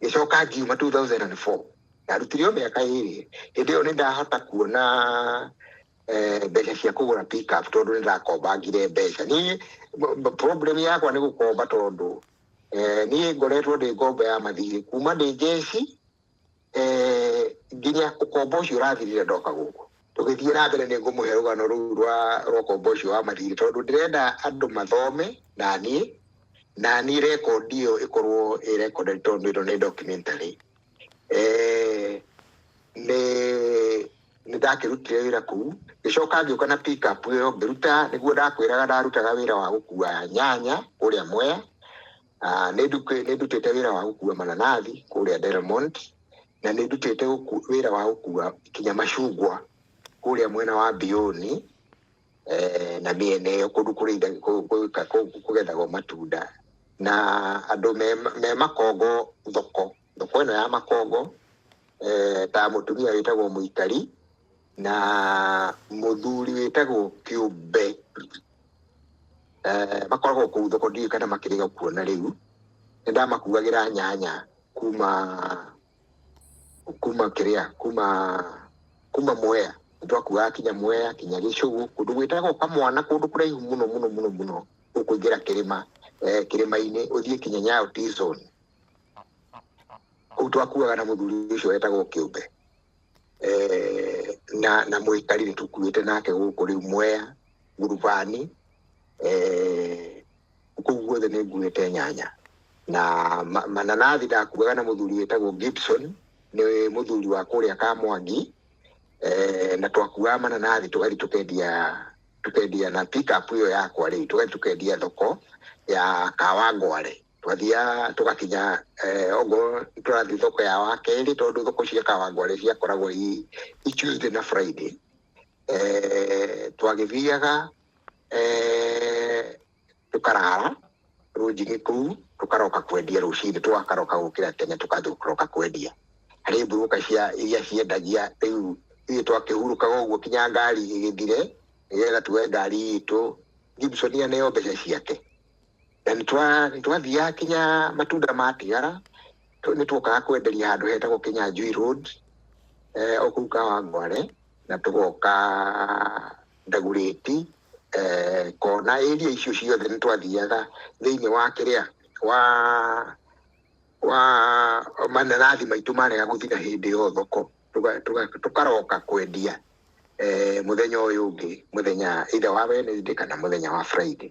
ngĩcoka ngiuma 2004 ndarutire o mĩaka ĩrĩ hĩndĩ ĩyo nĩ ndahota kuona eh, mbeca cia kũgũra pickup tondũ nĩ ndakombangire mbeca niĩ b- b- problem yakwa nĩ gũkomba tondũ eh, niĩ ngoretwo ndĩ ngombo ya mathirĩ kuma ndĩ njeci eh, nginya ũkombo ũcio ũrathirire ndoka gũkũ tũgĩthiĩ na mbere nĩ ngũmũhe rũgano rũu rwa rwa ũkombo ũcio wa mathirĩ tondũ ndĩrenda andũ mathome na niĩ na niĩ rekondi ĩyo ĩkorwo ĩ rekondi tondũ ĩno nĩ documentary eh, nĩ nĩ ndakĩrutire wĩra kũu ngĩcoka ngĩũka na pick up ĩyo ngĩruta nĩguo ndakwĩraga ndarutaga wĩra wa gũkua nyanya kũrĩa mwea Ah, nĩ nduku- nĩ ndutĩte wĩra wa gũkua mananathi kũrĩa Delmont na nĩ ndutĩte gũku- wĩra wa gũkua kinya macungwa kũrĩa mwena wa Mbioni eh, na mĩena ĩyo kũndũ kũrĩitha- kũ- kũ- kũ- kũgethagwo matunda na andũ me- me makongo thoko thoko ĩno ya makongo eh, ta mũtumia wĩtagwo mũikari na mũthuri wĩtagwo kĩũmbe eh, makoragwo kũu thoko ndiũĩ kana makĩrĩga kuona rĩu nĩ ndamakuagĩra nyanya kuma kuma kĩrĩa kuma kuma mwea twakuaga kinya mwea kinya gĩcũgũ kũndũ gwĩtagwo kamwana kũndũ kũraihu mũno mũno mũno mũno ũkũingĩra kĩrĩma eh, kĩrĩma-inĩ ũthiĩ kinya nyayo T-zone kuu twakuaga na muthuri ucio wetagwo kiumbe eh, na na muikari ni tukuite nake guku riu mwea ngurubani eh, kuu guothe ni nguite nyanya na ma- mananathi ndakuaga na muthuri wetagwo gibson ni muthuri wa kuria kamwangi eh, na twakuaga mananathi tugathi tukendia tukendia na pickup iyo yakwa riu tugathi tukendia thoko ya kawangware twathiaga tũgakinya eh, ongorwo tũrathiĩ thoko ya wa kerĩ tondũ thoko cia kawangware ciakoragwo i i tuesday na friday eh, twagĩthiaga eh, tũkarara rũnjinĩ kũu tũkaroka kwendia rũcinĩ tũgakaroka gũkĩra tene tũkaroka kwendia harĩ mburuka cia iria ciendagia rĩu ithuĩ twakĩhurũkaga ũguo kinya ngari ĩgĩthire nĩgetha tuoe ngari itũ gibson aneyo mbeca ciake na nĩtwathiaga kinya matunda matigara nĩtwokaga kwenderia handũ hetagwo Kinyanjui Road eh, okuu Kawangware na tũgoka Ndagurĩti eh, kona area icio ciothe nĩtwathiaga thĩinĩ wa kĩrĩa wa wa mananathi maitũ marega gũthira hĩndĩ ĩyo thoko Tũga- tũga- tũkaroka kwendia eh, mũthenya ũyũ ũngĩ mũthenya either wa Wednesday kana mũthenya wa Friday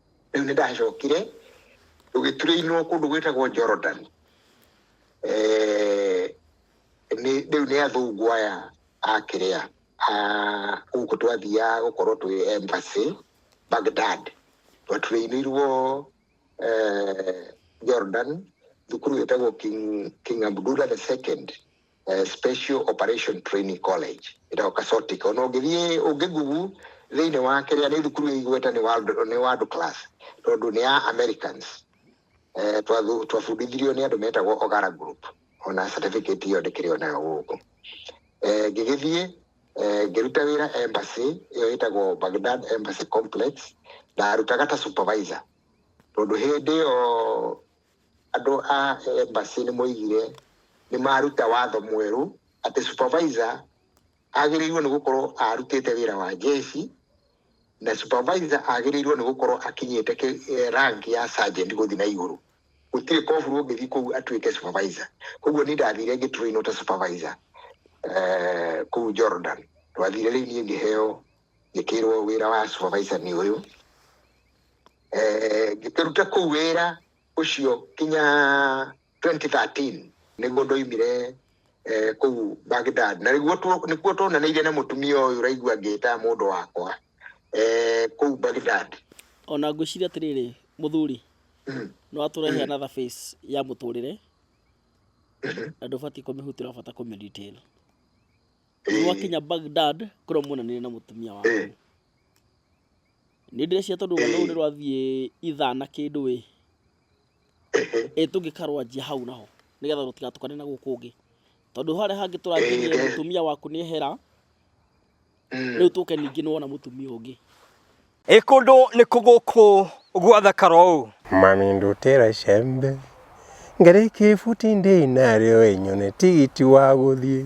rĩu nĩ ndacokire tũgĩturĩinwo kũndũ gwĩtagwo Jordan Eh, nĩ- rĩu nĩ athũngũ aya akĩrĩa gũkũ twathiaga gũkorwo twĩ embassy Baghdad twaturĩinirwo eh, Jordan thukuru wĩtagwo King, King Abdullah the second eh, special operation training college ĩtagwo kasotic ona ũngĩthiĩ ũngĩ google thĩinĩ wa kĩrĩa nĩ thukuru ĩ igweta nĩ world, nĩ world class tondũ nĩ ya americans eh, twathu- twabundithirio nĩ andũ metagwo ogara group ona certificate ĩyo ndĩkĩrĩ onayo gũkũ eh, ngĩgĩthiĩ eh, ngĩruta wĩra embassy ĩyo ĩtagwo bagdad embassy complex ndarutaga ta supervisor tondũ hĩndĩ ĩyo Andũ a embassy nĩ moigire nĩ maruta watho mwerũ atĩ supervisor agĩrĩirwo nĩ gũkorwo arutĩte wĩra wa jeshi na supervisor agĩrĩirwo nĩ gũkorwo akinyĩte kĩ- eh, rank ya sergeant gũthiĩ na igũrũ gũtirĩ koburu ũngĩthiĩ kũu atuĩke supervisor koguo niĩ ndathire ngĩtũrĩinwo ta supervisor eh, kũu jordan twathire rĩu niĩ ngĩheo ngĩkĩrwo wĩra wa supervisor nĩ ũyũ eh, ngĩkĩruta kũu wĩra ũcio kinya 2013 nĩguo ndoimire eh, kũu Baghdad na nĩguo tu- nĩkuo tuonanĩire na mũtumia ũyũ ũraigua ngĩta mũndũ wakwa eh, kũu Baghdad ona ngwĩciria atĩrĩrĩ mũthuri Mm. nĩ watũrehe another face ya mũtũrĩre na ndũbatiĩ kũmĩhutĩra bata kũmĩdetail nĩ Eh, wakinya bagdad kũrĩa muonanire na mũtumia waku Eh. nĩ ndĩreciria tondũ rũgano rũu nĩ rwathiĩ ithaa na kĩndũ ĩ ĩ tũngĩkarwanjia hau naho nĩgetha rũtigatukane na gũkũ ũngĩ tondũ harĩa hangĩ tũranjĩrie Ĩĩ. mũtumia waku nĩ ehera Mm. rĩu tũke ningĩ nĩ wona mũtumia ũngĩ Ĩ kũndũ nĩ kũgũkũ gwathakara ũũ Mami ndutĩra icembe ngarĩkie ibuti ndĩ narĩo ĩnyone tigiti wa gũthiĩ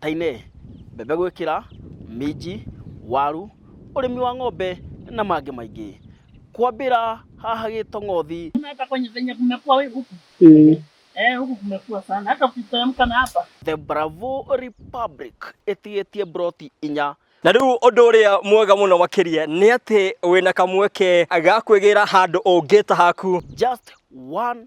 ta-inĩ, mbembe gwĩkĩra, minji, waru, ũrĩmi wa ng'ombe na mangĩ maingĩ. Kwambĩra haha Gĩtong'othi. The Bravo Republic ĩtigĩtie mburoti inya. Na rĩu ũndũ ũrĩa mwega mũno makĩria nĩ atĩ wĩna kamweke ga kwĩgĩra handũ ũngĩta haku. Just one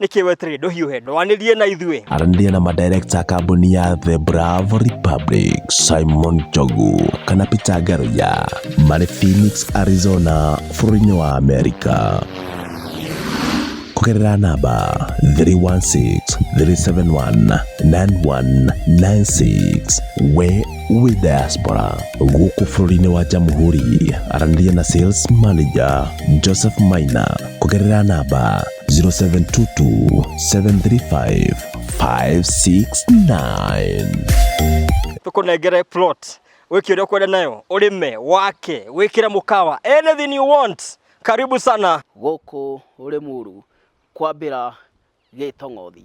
nĩkĩ weterire ndũhiũhe ndwanĩrie na ithuĩ aranĩria na madirekta a kambuni ya the bravo republic simon jogu kana peter garoya marĩ phoenix arizona bũrũri-inĩ wa amerika kũgerera namba 316-371-9196 we wĩ diaspora gũkũ bũrũri-inĩ wa jamhuri aranĩria na sales manager joseph maina kũgerera namba 0722 735 569 tũkũnengere plot wĩke ũrĩa ũkwenda nayo ũrĩme wake wĩkĩre mũkawa anything you want karibu sana gũkũ Rĩmuru kwambĩra Gĩtong'othi.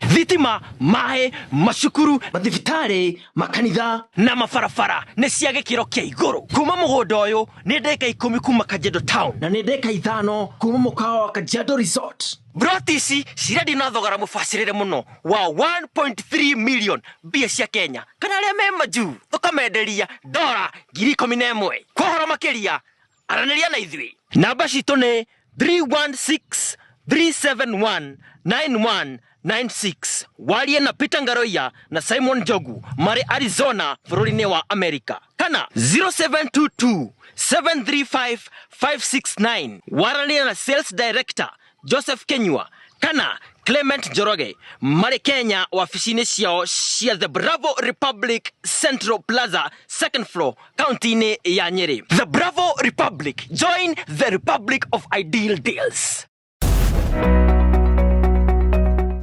thitima maĩ macukuru mathibitarĩ makanitha na mabarabara nĩ cia gĩkĩro kĩa igũrũ kuma mũgũnda ũyũ nĩ ndeka ikũmi kuma kanjendo town na nĩ ndeka ithano kuma mũkawa wa kanjando resort broti ici cirendio na thogora mũbacĩrĩre mũno wa 1.3 million mbia cia kenya kana arĩa me majuu thũkamenderia ndora ngiri ikũmi na ĩmwe kwa ũhoro makĩria aranĩria na ithuĩ. Namba citũ nĩ 316-371-9196. Warie na Peter Ngaroia na Simon Jogu marĩ Arizona bũrũri-inĩ wa Amerika kana 0722-735-569. Waranĩria na Sales Director Joseph Kenyua kana Clement Njoroge marĩ Kenya wabici-inĩ ciao cia The Bravo Republic Central Plaza second floor kaunti-inĩ ya Nyeri. The Bravo Republic, join the Republic of Ideal Deals.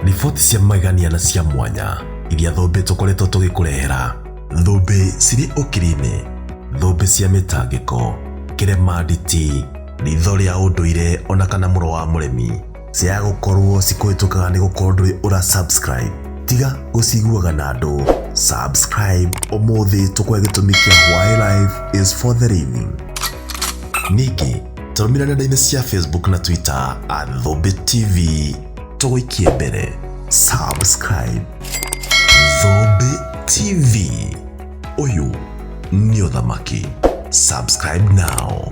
riboti cia magegania na cia mwanya iria thũmbĩ tũkoretwo tũgĩkũrehera thũmbĩ cirĩ ũkiri-inĩ thũmbĩ cia mĩtangĩko kĩremanditi Ritho rĩa ũndũire ona kana mũro wa mũremi ciaga gũkorwo cikũhĩtũkaga nĩ gũkorwo ndũrĩ ũra subscribe tiga gũciguaga na andũ subscribe ũmũthĩ tũkwe gĩtũmi kĩa why life is for the living ningĩ tũrũmĩra nenda-inĩ cia facebook na twitter at thũmbĩ tv tũgũikie mbere subscribe thũmbĩ tv Ũyũ nĩ ũthamaki. Subscribe now.